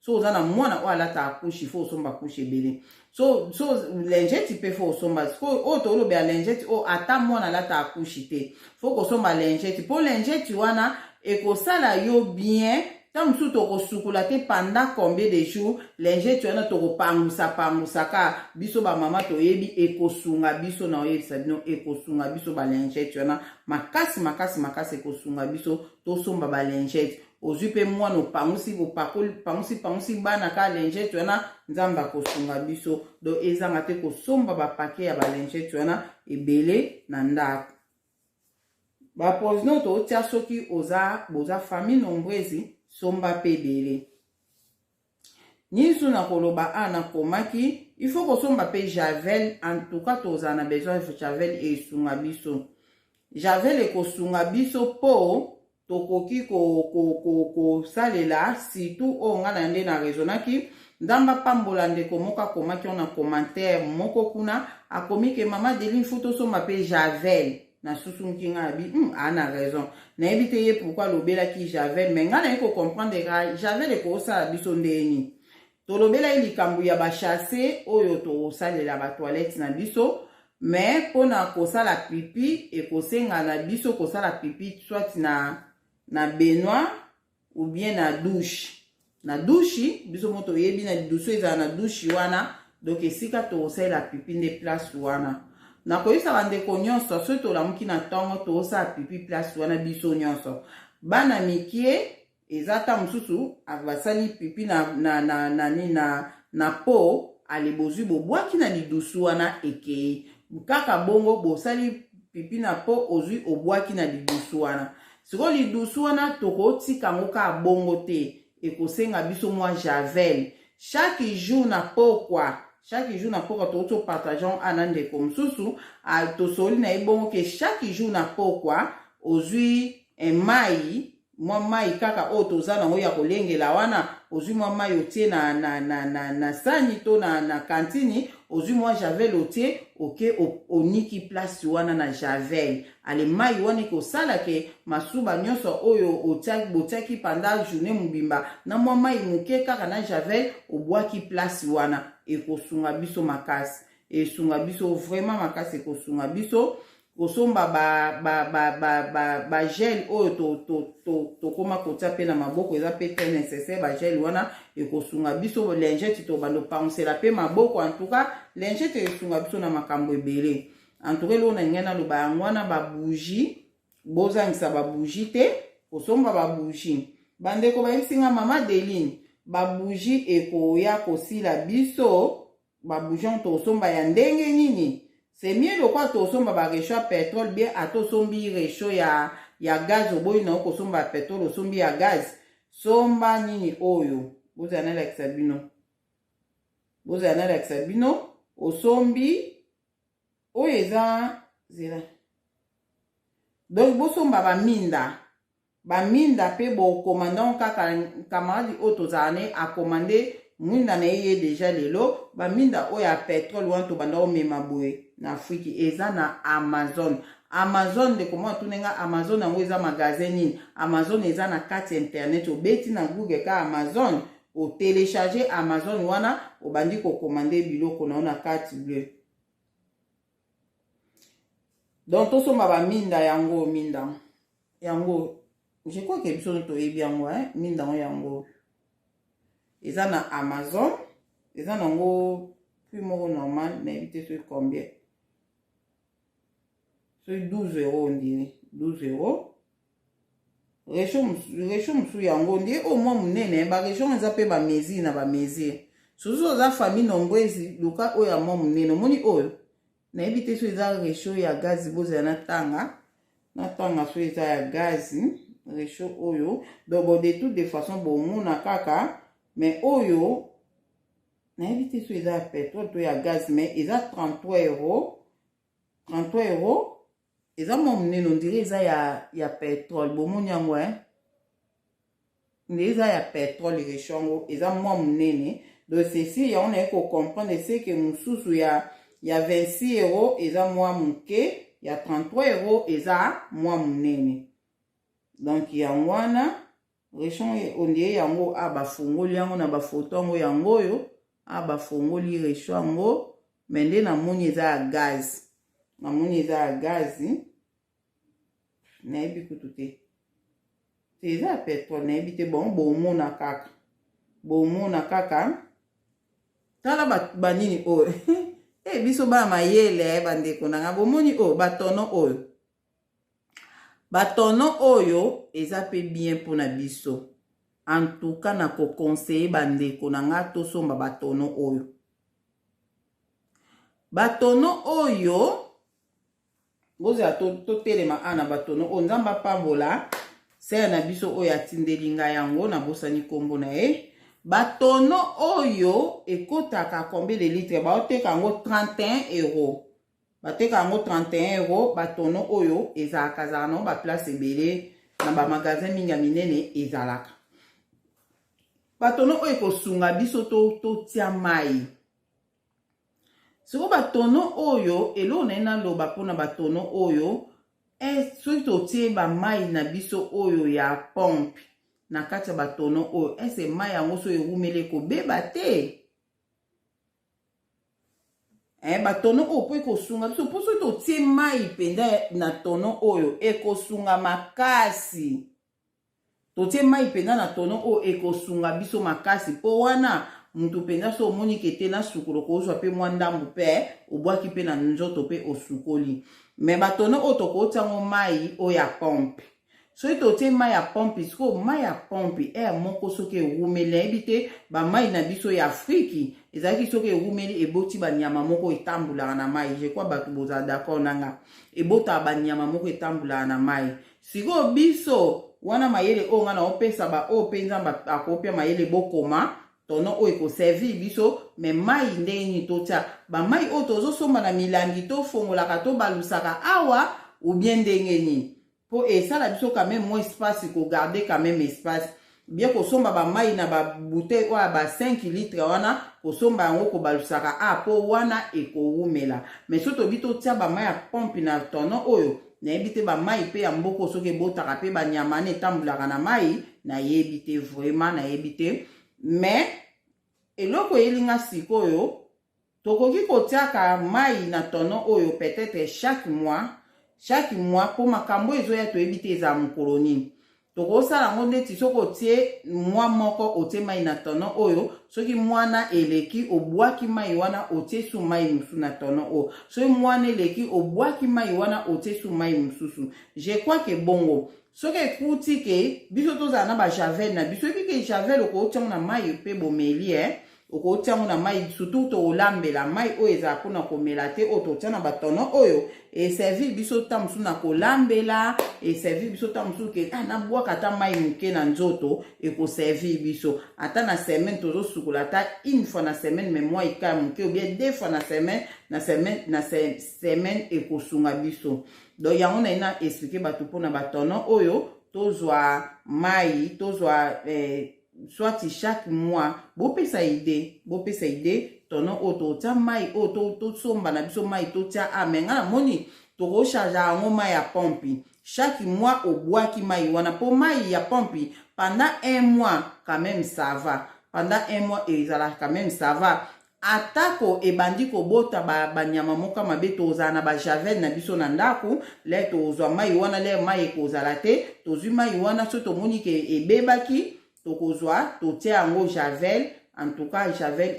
so oza na mwana oyo alata akushi fo osomba akushi ebele so so lingeti mpe fo osomba sikoyo oyo tolobela lingeti oyo ata mwana alata akushi te fo kosomba lingeti mpo lingeti wana ekosala yo bien ntango mosusu tokosukola te panda combien de jour lingeti wana tokopangusa pangusa ka biso bamama toyebi ekosunga biso na oyebisa bino ekosunga biso balingeti wana makasi makasi makasi ekosunga biso tosomba balingeti ozwi mpe mwana opangusi bopakoli pangusi pangusi bana ka lingete wana nzambe akosunga biso donc ezanga te kosomba bapake ya balingete wana ebele na ndako baprovision tootya soki oza boza famille nombreuse somba mpe ebele Nisu nakoloba a na komaki il faut kosomba pe javel en tout cas tozala na besoin javel esunga biso javel ekosunga biso po tokoki kosalela ko, ko, ko, surtout oyo ngai na nde na raisonnaki nzambe apambola ndeko moko akomaki ona commentaire moko kuna akomi ke mama delin fo tosomba pe javel na susumuki nga abi hmm, ana raison nayebi te ye pourkui alobelaki javel mai ngai naye kocomprendre ka javel ekosala biso ndeni tolobelaki likambo ya bachasse oyo tokosalela batoilette na biso mai mpona kosala pipi ekosenga na biso kosala pipi soit na na benoit ou bien na douche na douche biso mo toyebi na lidusu ezala na douche wana donc esika tokosalela pipi nde place wana nakoyebisa bandeko nyonso soki tolamuki na ntongo tokosala pipi place wana biso nyonso bana mikie eza ata mosusu basali pipi na, na, na, na, na, na, na po ale bozwi bobwaki na lidusu wana ekei kaka bongo bosali pipi na po ozwi obwaki na lidusu wana sikoyo lidusu wana tokotika yango kaka bongo te ekosenga biso mwa javel chaque jour na pokwa chaque jour na pokwa tokoki topartage yango ana ndeko mosusu tosoli na ye bongo ke chaque jour na pokwa ozwi eh, mai mwa mai kaka oyo toza nango ya kolengela wana ozwi mwa mai otie na, na, na, na, na sani to na, na kantini ozwi mwa javel otie oke oniki place wana na javel Alemayi wana ekosala ke masuba nyonso oyo otiaki botiaki panda journee mobimba na mwa mayi moke kaka na javel obwaki place wana ekosunga biso makasi esunga biso vraiment makasi ekosunga biso kosomba ba ba ba ba ba, ba gel oyo to to to tokoma kotia pe na maboko eza pe très nécessaire ba gel wana ekosunga biso lingette tobanda opangusela pe maboko en tout cas lingette esunga biso na makambo ebele en tout cas eloko na lingai naloba yango wana babougie bozangisa babougie te kosomba babougie bandeko bayebisi nga mama deline babougie ekoya kosila biso babougie yango tokosomba ya ndenge nini c'est mieux lokola tokosomba barecho ya petrole bien ata osombi recho ya, ya gaz oboyi na yo kosomba ya petrole osombi ya gaz somba nini oyo bozala nalakisa bino bozala nalakisa bino osombi oyo eza zela donc bosomba baminda baminda mpe bokoma donc kaka kamaradi oyo tozala ne akoma nde mwinda na ye ye deja lelo baminda oyo ya petrole wana tobanda komema boye na afriki eza na amazon amazon ndeko mwa tuna nga amazon yango eza magasin nini amazon eza na kati ya internet obeti na google ka amazon O telecharger Amazon wana obandi ko commander biloko na yo na carte bleue. Donc tosomba ba minda yango minda yango je crois que biso toyebi yango hein minda yango yango eza na Amazon eza nango prix moko normal nayebi te soki combien soki 12 euro ondire 12 euro Recho mosusu yango nde oyo mwa monene ba region eza mpe ba mesure na ba mesure soki oza famille nombwezi luka oyo ya mwa monene omoni oyo nayebi te so eza recho ya gazi bozala natanga natanga so eza ya gazi recho oyo donc bon de toute de façon bomona kaka mais oyo nayebi te so eza ya petrole to ya gazi mais eza 33 euro 33 euro eza mwa monene ondire eza ya, ya petrole bomoni yango e nde eza ya petrole recho yango eza mwa monene donc ceci yango naye kocomprendre eseke mosusu ya, ya 26 euro eza mwa moke ya 33 euro eza mwa monene donc yango wana Rechon ondie yango a bafongoli yango na bafoto yango yango oyo a bafongoli recho yango me nde namoni eza ya gaz namoni eza ya gazi nayebi kutu te te eza ya petrole nayebi te bongo bomona kaka bomona kaka tala banini oyo e biso bana mayele bandeko na ngai bomoni oyo batono oyo Ba tono oyo eza pe bien pona biso en tout cas na ko conseille ba ndeko na nga to somba ba tono oyo ba tono oyo bozela to, to telema a na ba tono oyo nzambe apambola sere na biso oyo atindeli nga yango na bosani kombo na ye ba tono oyo ekotaka combien de litre baoteka yango 31 euros bateka yango 31 euro batono oyo ezalaka ezalaka nango baplace ebele na bamagasin mingi ya minene ezalaka batono oyo ekosunga biso totia to mai sikoyo batono oyo eloko naye naloba mpona batono oyo e, soki totie bamai na biso oyo ya pompe na kati ya batono oyo ese mai yango so ewumeli ekobeba te eh, batono oyo mpo ekosunga biso mpo soki totie mai mpenza na tono oyo ekosunga makasi totie mai mpenza na tono oyo ekosunga biso makasi mpo wana moto mpenza so omoni ke te na sukolo kozwa mpe mwa ndambo mpe obwaki mpe na nzoto mpe osukoli me batono oyo tokotia yango mai oyo ya pompe soki totie mai ya pompe sikoyo mai ya pompe ere moko soki ewumeli nayebi te bamai na biso ya afriki ezalaki soki ewumeli eboti banyama moko etambolaka na mai je crois bato bozala d'accord na nga ebotaka banyama moko etambolaka na mai sikoyo biso wana mayele oyo ngai naopesa baoyo mpe nzambe akopia mayele bokoma tono oyo ekoservir biso me mai ndenge nini totya bamai oyo tozosomba na milangi tofongolaka tobalusaka awa oubien ndenge nini mpo esala biso quand même moins espace kogarde quand même espace bie kosomba bamai na babutei oyo ya ba 5 litre wana kosomba yango kobalusaka a mpo wana ekowumela me so tobi totya bamai ya pompe na tono oyo nayebi te bamai mpe ya mboko soki ebotaka mpe banyama wana etambulaka na mai nayebi te vraimen nayebi te mais eloko eyelinga sikoyo tokoki kotiaka mai na tono oyo peut-être chaque mois chaque mois mpo makambo ezoya toyebi te ezala mokolo nini tokosala yango ndeti soki otie mwa moko otie mai na tono oyo soki mwana eleki obwaki mai wana otie su mai mosusu na tono oyo soki mwana eleki obwaki mai wana otie su mai mosusu je crois ke bongo soki ekuti ke biso tozala na bajavel na biso ebi ke javel okootiango na mai mpe bomeli e eh? okotia yango na mai surtout tokolambela mai oyo ezala mpona komela te oyo totia na batono oyo eservir biso ntango mosusu na kolambela eservir biso ntango mosusu ke ah, nabwaka ata mai moke na nzoto ekoservir biso ata na semaine tozosukola ata une fois na semaine me mwa ika moke obien deux fois na semaine na semaine na semaine ekosunga biso donc yango naye na explike bato mpona batono oyo tozwa mai tozwa eh, soit chaque mois bopesa idee bopesa idee tono oyo totya mai oyo tosomba na biso mai totya a me ngai namoni tokocharge yango mai ya pompi chaque mois obwaki mai wana mpo mai ya pompi pendant un mois quand même ça va pendant un mois ezalaka quand même ça va Atako ebandi kobota ba banyama moka mabe, tozala na ba javel na biso na ndako, le tozwa mai wana, le mai ekozala te, tozwi mai wana, so tomoni ke ebebaki, tokozwa, totia yango javel, en tout cas javel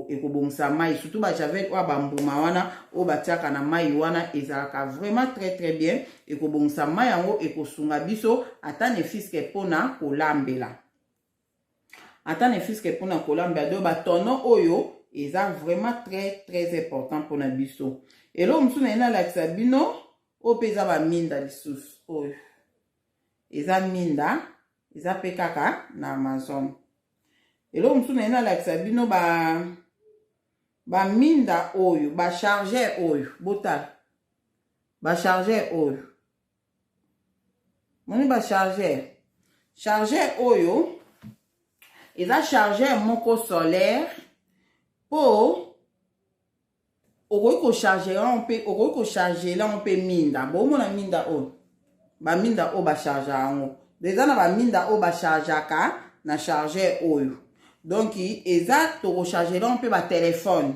ekobongisa eko mai surtout ba javel oyo bambuma wana oyo batiaka na mai wana ezalaka vraiment très très bien ekobongisa mai yango ekosunga biso ata ne fiske mpona kolambela ata ne fiske mpona kolambela do batono oyo eza vraiment très très important mpona biso eloko mosusu naye nalakisa bino oyo mpe eza baminda lisusu oyo eza minda eza mpe kaka na amazon eloko mosusu naye nalakisa bino ba baminda oyo bacharger oyo botala bacharger oyo moni ba chargeur chargeur oyo eza chargeur moko solaire mpo okoki kocharge yango mpe okoki kocharge yango mpe minda bomona minda oyo baminda oyo bacharge yango eza na baminda oyo bachargeaka na chargeur oyo donk eza tokocharge yango mpe batelefone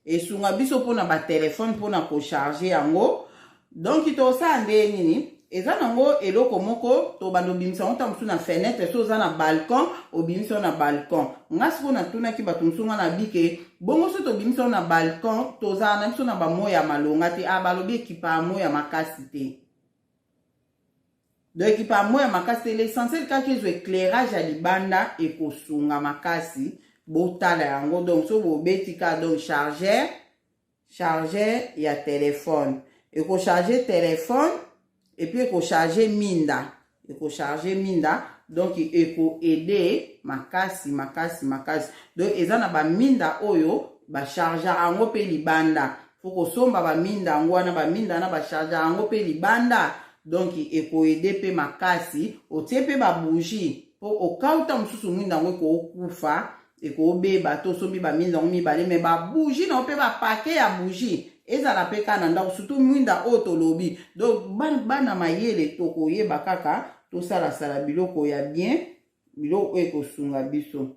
esunga biso mpona batelefone mpona kocharge yango donki tosala nde nini eza nango eloko moko tobanda obimisa yango ntango mosusu na fenetre so oza na balcon obimisa yango na balcon ngai sikoyo natunaki bato mosusu ngai nabike bongo so tobimisa yango na balcon tozala na biso na bamoi ya malonga te a ah, balobi ekipaa moi ya makasi te donc ekipa ya moya makasi te l'essentiel kaka ezwa éclairage ya libanda ekosunga makasi botala yango donc so bobeti kaka donc chargeur chargeur ya telefone ekocharge telefone epuis ekocharge minda ekocharge minda donc ekoaide makasi makasi makasi donc eza na baminda oyo bachargea yango mpe libanda faut kosomba baminda yango wana baminda wana bacharge yango mpe libanda donc ekoede mpe makasi otie mpe babougie mpo okauta mosusu mwinda yango ekookufa ekobeba to osombi baminda yango mibale me babougie na yo mpe bapake ya bougie ezala mpe kaka na ndako surtout mwinda oyo tolobi donc bana mayele tokoyeba kaka tosalasala biloko ya bien biloko oyo ekosunga biso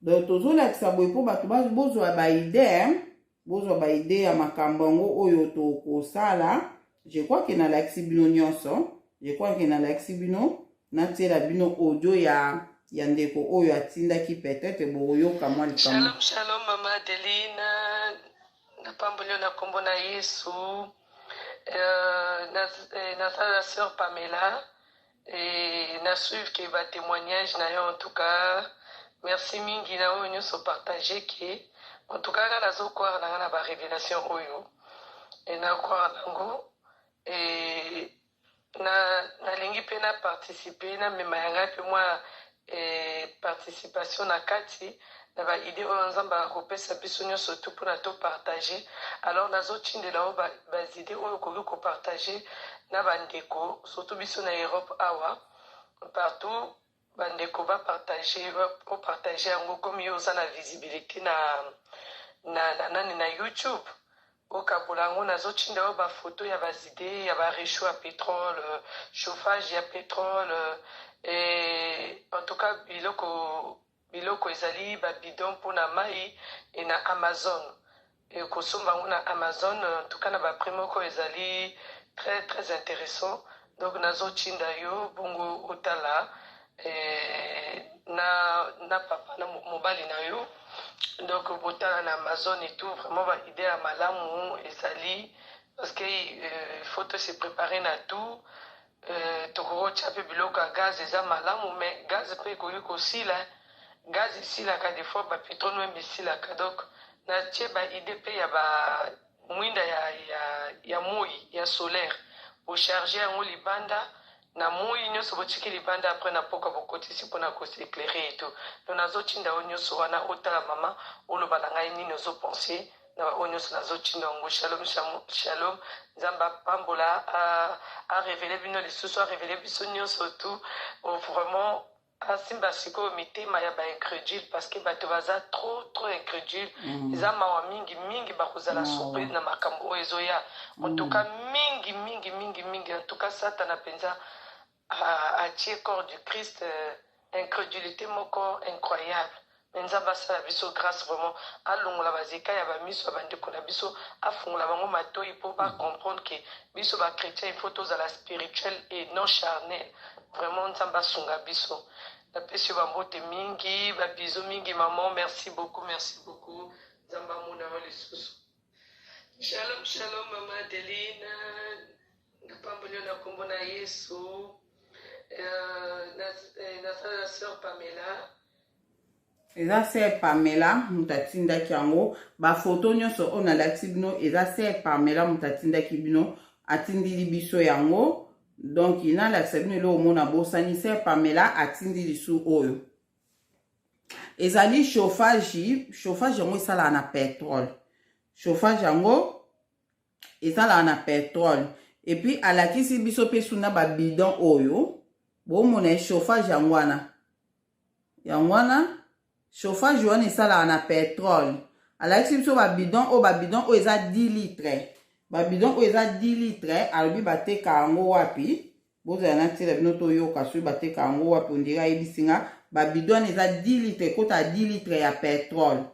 donc tozolakisa boye mpo bato bozwa baide bozwa baide ya makambo yango oyo tokosala je crois ke nalakisi bino nyonso je crois ke nalakisi bino natiela bino audio ya ya ndeko oyo atindaki peut-être bokoyoka mwa likambo shalom shalom mama adeline napamboli yo na nkombo na yesu euh, naza na euh, sœur pamela Et na suivre que ba témoignages na yo en tout cas merci mingi na oyo nyonso partager que en tout cas nga nazo croire na nga na ba révélation oyo et na croire nango et na nalingi mpe na participer na mema ya ngai mpe mwa mpe participation na kati na ba idee oyo Nzambe akopesa biso nionso tout pona to partager. Alors nazo tindela yo ba bas idees oyo okoki ko partager na ba ndeko surtout biso na Europe awa partout ba ndeko ba partager o partager yango comme yo oza na visibilite na na nani na YouTube Bokabola yango nazo tinda yo ba photo ya bas idees ya ba rechaud ya petrole, chauffage ya petrole et en tout cas biloko biloko ezali ba bidon mpo na mayi et na Amazon et kosomba yango na Amazon en tout cas na ba prix moko ezali très très intéressant donc nazo tinda yo bongo otala eh, na, na papa na mobali na yo donc botala na amazon et tout vraiment baide ya malamu ezali parce que euh, faut to se préparer na tout euh, tokokotya mpe biloko ya gaz eza malamu mais gaz mpe ekoki kosila gaz esilaka des fois bapetro noembe esilaka donc natie baide mpe ya ba Mwinda ya, ya, ya moi ya solaire bocharge yango libanda na moi nyonso botiki libanda apres na poka bokotisi mpona koseklere eto no nazotinda oyo nyonso wana otala mama oloba na ngai nini ozopense na baoyo nyonso nazotinda yango shalom shalom nzambe apambola arevele bino lisusu arevele biso nyonso tu oh, vraiment Asimba sikoyo mitema ya ba incredule parce que bato baza trop trop incredule eza mawa mingi mingi bakozala Mawa. surprise na makambo oyo ezoya en tout cas mingi mingi mingi mingi en tout cas satana mpenza a- atie corps du christ euh, incredulité moko incroyable Mais Nzambe asala biso grace vraiment alongola ba zeka ya ba miso ya ba ndeko na biso afungola bango matoyi po ba comprendre que biso ba chretien il faut tozala spirituel et non charnel vraiment Nzambe asunga biso napesi yo ba mbote mingi ba bisous mingi maman merci beaucoup merci beaucoup Nzambe amona yo lisusu Shalom, shalom, Mama Adeline. Napamboli yo na kombo na Yesu. Euh, na- eh, Nasala na sœur Pamela. eza ser pamela moto atindaki yango bafoto nyonso oyo nalakisi bino eza ser pamela moto atindaki bino atindili biso yango donk nalakisa bino eloko mona bosani ser pamela atindi lisu oyo ezali chauffage chauffage yango esalaka na petrole chauffage yango esalaka na petrole epuis alakisi biso mpe suna babidon oyo bomona chauffage yango wana Yango wana chauffage wana esalaka na petrole. Alakisi biso ba bidon oyo ba bidon oyo eza 10 litre. Ba bidon oyo eza 10 litre alobi bateka yango wapi? Bozala na tira bino toyoka soki bateka yango wapi ondira ayebisi nga ba bidon wana eza 10 litre ekota 10 litre ya petrole.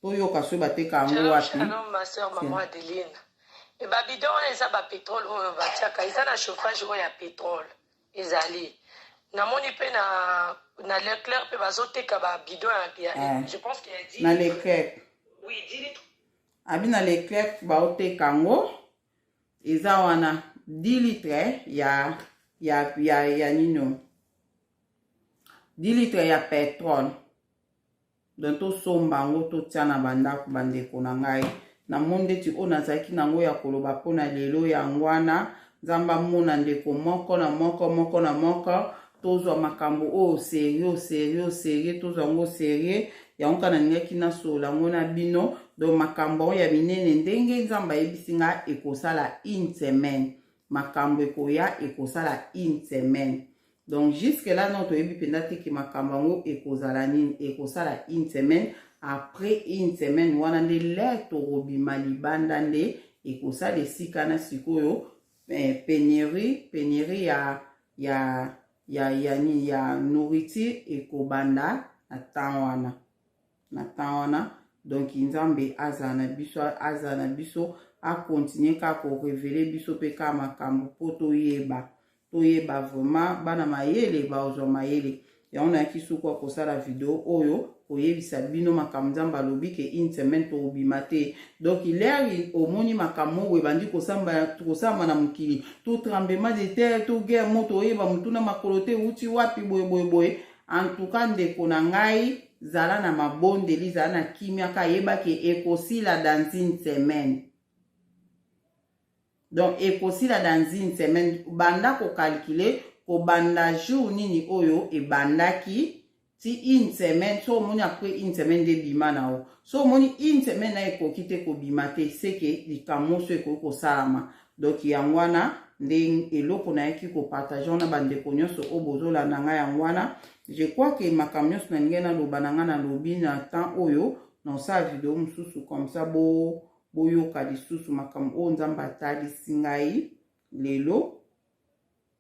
toyoka soki bateka yango wapi shalom ma soeur maman adeline e ba bidon wana eza ba petrole oyo batiaka eza na chauffage oyo ya petrole ezali namoni mpe na na leclerc mpe bazoteka ba bidon ya, ya eh. je pense que ya dit na leclerc oui dit litre abi na leclerc baoteka yango eza wana 10 litre ya ya ya ya nino 10 litre ya petrole donc tosomba yango totya na bandako bandeko na ngai namoni ndeti oyo nazalaki na yango ya koloba mpo na lelo yango wana nzambe amona ndeko moko na moko moko na moko tozwa makambo oyo serio serio serie tozwa yango serie yango kaka nalingaki nasolola yango na bino donc makambo yango ya minene ndenge nzambe ayebisi ngai ekosala une semaine makambo ekoya ekosala une semaine Donc jusque là non toyebi mpenza te ke makambo yango ekozala nini ekosala une semaine après une semaine wana nde lere tokobima libanda nde ekosala esika na sikoyo eh, penurie penurie ya ya ya ya nini ya nourriture ekobanda na temps wana na temps wana donc nzambe azala na biso azala na biso akontinue kaka korevele biso mpe kaka makambo mpo toyeba toyeba vraiment bana mayele baozwa mayele yango nayaki suku akosala video oyo koyebisa bino makambo nzambe alobi ke une semaine tokobima te donc leri omoni makambo moko ebandi kosalama na mokili to tremblement de terre to guerre moto oyeba motuna makolo te euti wapi boye boye boye en tout cas ndeko na ngai Zala na mabondeli, zala na kimia ka yeba ke ekosila dans une semaine. Donc ekosila dans une semaine banda ko calculer kobanda jour nini oyo ebandaki ti une semaine so omoni apres une semaine nde bima na yo so omoni une semaine na ekoki te kobima te seke likambo mosusu ekoki kosalama donc yango wana nde eloko nayaki kopartage wana bandeko nyonso oyo bozolanda ngai yango wana je crois ke makambo nyonso nalingai naloba na ngai nalobi na temps oyo naosala video mosusu comme ça bo boyoka lisusu makambo oyo nzambe atalisi ngai lelo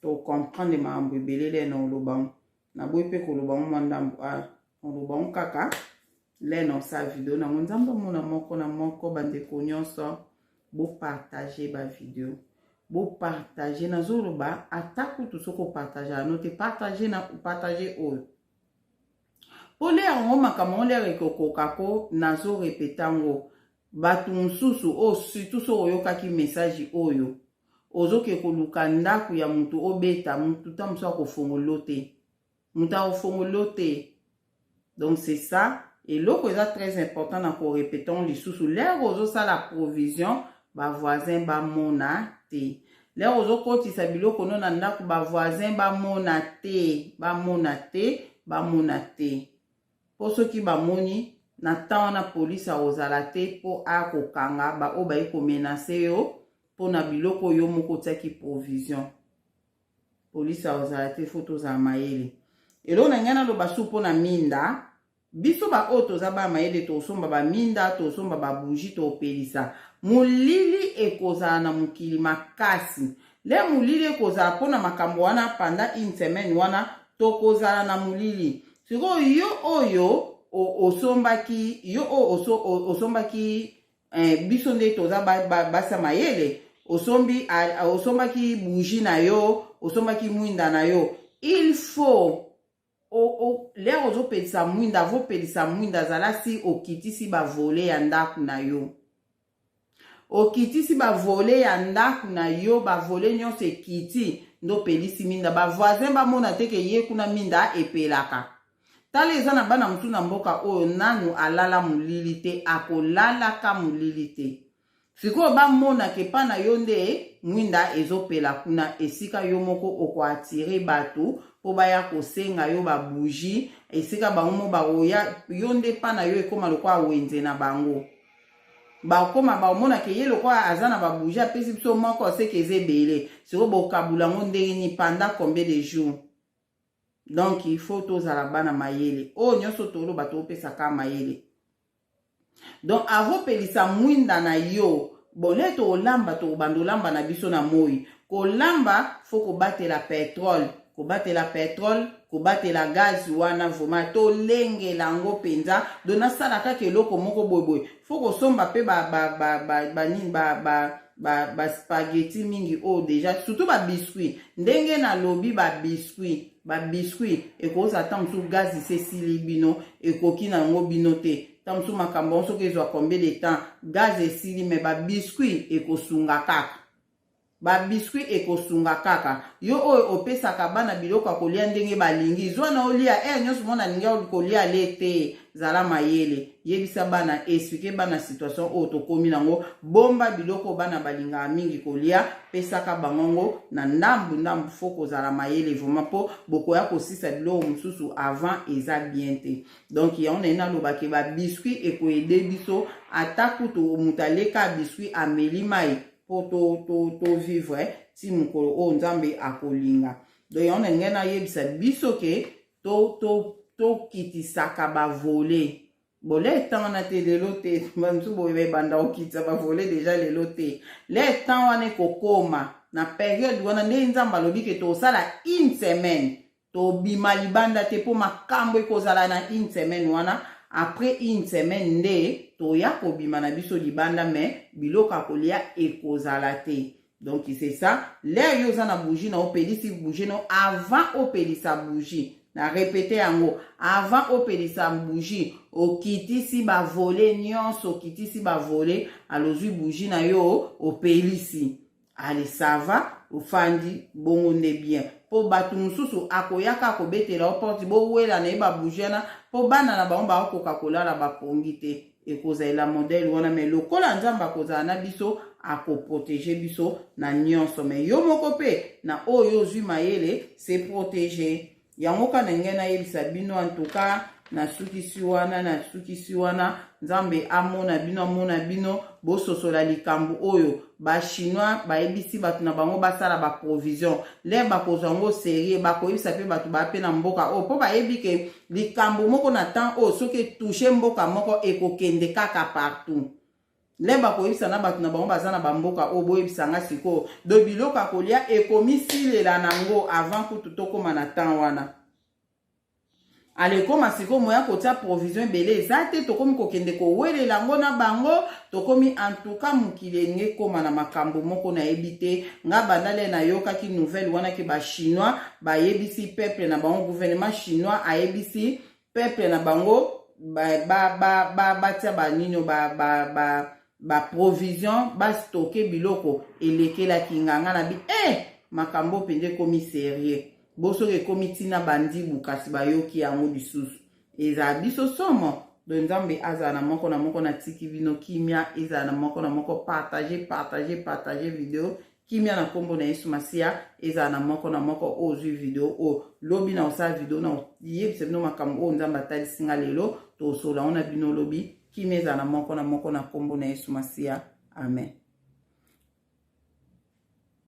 To comprendre makambo ebele le na oloba ngo. Na boye pe koloba ngo mwa ndambo. Ah, oloba ngo kaka le na osala video na ngo. Nzambe amona moko na moko bandeko nyonso. Bo partager ba video. Bo partager. Nazo loba ata kutu soki o partager ano te partager na partager oyo. Po le yango makambo ngo le ekokoka ko nazo repeta ngo. bato mosusu oyo oh, surtout soki oyokaki message oyo ozoke koluka ndako ya moto obeta moto ta mosusu akofongolo te moto akofongolo te donc c'est ça eloko eza très important na korepetons lisusu lere ozosala provision bavoisin bamona te lere ozokotisa biloko no na ndako bavoisin bamona te bamona te bamona te Po soki ba moni na temps wana police akozala te po aya kokanga ba oyo baye ko menacer yo po na biloko yo moko otiaki provision. Police akozala te faut tozala mayele. Eloko na ngai naloba su po na minda biso ba oyo toza ba mayele tosomba ba minda tosomba ba bougie topelisa molili ekozala na mokili makasi le molili ekozala mpona makambo wana panda une semaine wana tokozala na molili sikoyo yo oyo osombaki yo oyo osombaki eh, biso nde toza basa mayele osombi osombaki bougi na yo osombaki mwinda na yo il faut lere ozopelisa mwinda avopelisa mwinda zala si okitisi bavole ya ndako na yo okitisi bavole ya ndako na yo bavole nyonso ekiti nde opelisi minda bavoisin bamona te ke ye kuna minda epelaka tala eza na bana mosusu na mboka oyo nanu alala molili te akolalaka molili te sikoyo bamona ke pa na yo nde mwinda ezopela kuna esika yo moko okoatire bato mpo baya kosenga yo babougie esika bango mo bakoya yo nde pa na yo ekóma lokola wenze na bango bakoma bakomona ke ye lokola aza na babouge apesi biso moko aseke eza ebele sikoyo bokabula yango ndenge nini panda combien de jour donc il faut tozala bana mayele oyo oh, nyonso toloba topesaka mayele donc avopelisa mwinda na yo bole tokolamba tokobanda olamba na biso na moi kolamba fo kobatela petrole kobatela petrole kobatela gaz wana vrema tolengela yango mpenza do nasala kaka eloko moko boyeboye fo kosomba mpe banini ba, ba, ba, ba, ba spaghetti mingi oyo oh, deja surtout ba biscuit ndenge nalobi ba biscuit ba biscuit ekozala ntango mosusu gaz isi esili bino ekoki na yango bino te ntango mosusu makambo yango soki ezwa combien de temps gaz esili me ba biscuit ekosunga kaka Ba biscuits ekosunga kaka. Yo oyo opesaka bana biloko ya kolia ndenge balingi, zua na yo lia heure nionso omoni alingi ya kolia le te. Zala mayele. Yebisa bana, expliquer bana situation oyo tokomi na ngo. Bomba biloko oyo bana balingaka mingi kolia, pesaka bango yango na ndambu ndambu. Faut kozala mayele vraiment po bokoya kosisa biloko mosusu avant eza bien te. Donc yango naye naloba ke ba biscuits eko aider biso ata kutu mutu aleka biscuits ameli mayi mpo tovivre to, to eh, ti mokolo oyo nzambe akolinga donc yango na ngai nayebisa biso ke tokitisaka to, to bavole bole etan wana te lelo te bamosusu boye baebanda kokitisa bavole deja lelo te le etan wana ekokoma na periode wana nde nzambe alobi ke tokosala une semaine tobima libanda te mpo makambo ekozala na une semaine wana après une semaine nde toya kobima na biso libanda mais biloko ya kolia ekozala te donc c'est ça lere yo oza na bougie na opelisi bougie no avant opelisa bougie na repete yango avant opelisa bougie okitisi bavole nyonso okitisi bavole alozwi bougie na yo opelisi ale sava ofandi bongo nde bien mpo bato mosusu akoyaka akobetela yo porte bowela na ye babouge wana mpo bana na bango bakokoka kolala bapongi te ekozalela modele wana me lokola nzambe akozala na biso akoprotege biso na nyonso me yo moko mpe na oyo ozwi mayele se protege yango ka na ngai nayebisa bino antuka nasukisi wana nasukisi wana nzambe amona bino amona bino bososola likambo oyo bachinois bayebisi bato na bango basala baprovision le bakozwa yango serie bakoyebisa mpe bato baya mpe na mboka oyo mpo bayebi ke likambo moko na temps oyo soki etouche mboka moko ekokende kaka partout lemba koyebisa na bato na bango baza na bamboka oyo boyebisa nga sikoyo do biloko ya kolia ekomisilela na yango avant kutu tokóma na temps wana alekoma sikoyo moya kotia provision ebele eza te tokómi kokende kowelela yango na bango tokómi antuka mokili enge ekóma na makambo moko nayebi te nga bandale nayokaki nouvelle wana ke bachinois bayebisi peuple na bango gouvernement chinois ayebisi peuple na bango batia ba, ba, ba, ba banino ba, ba, ba, baprovision bastoke biloko elekelaki nga nga na bi e eh! makambo mpenza ekomi serieux bo soki ekomi ntina bandibu kasi bayoki yango lisusu ezala biso somo don nzambe azala na moko na moko na tiki bino kimia ezala na moko na moko partage partage partage video kimia na nkombo na yesu masiya ezala na moko na moko oyo ozwi video oyo lobi na kosala video na koyebisa bino makambo oyo nzambe atalisi nga lelo tosolola yango na bino lobi kimia ezala na moko na moko na nkombo na yesu masiya amen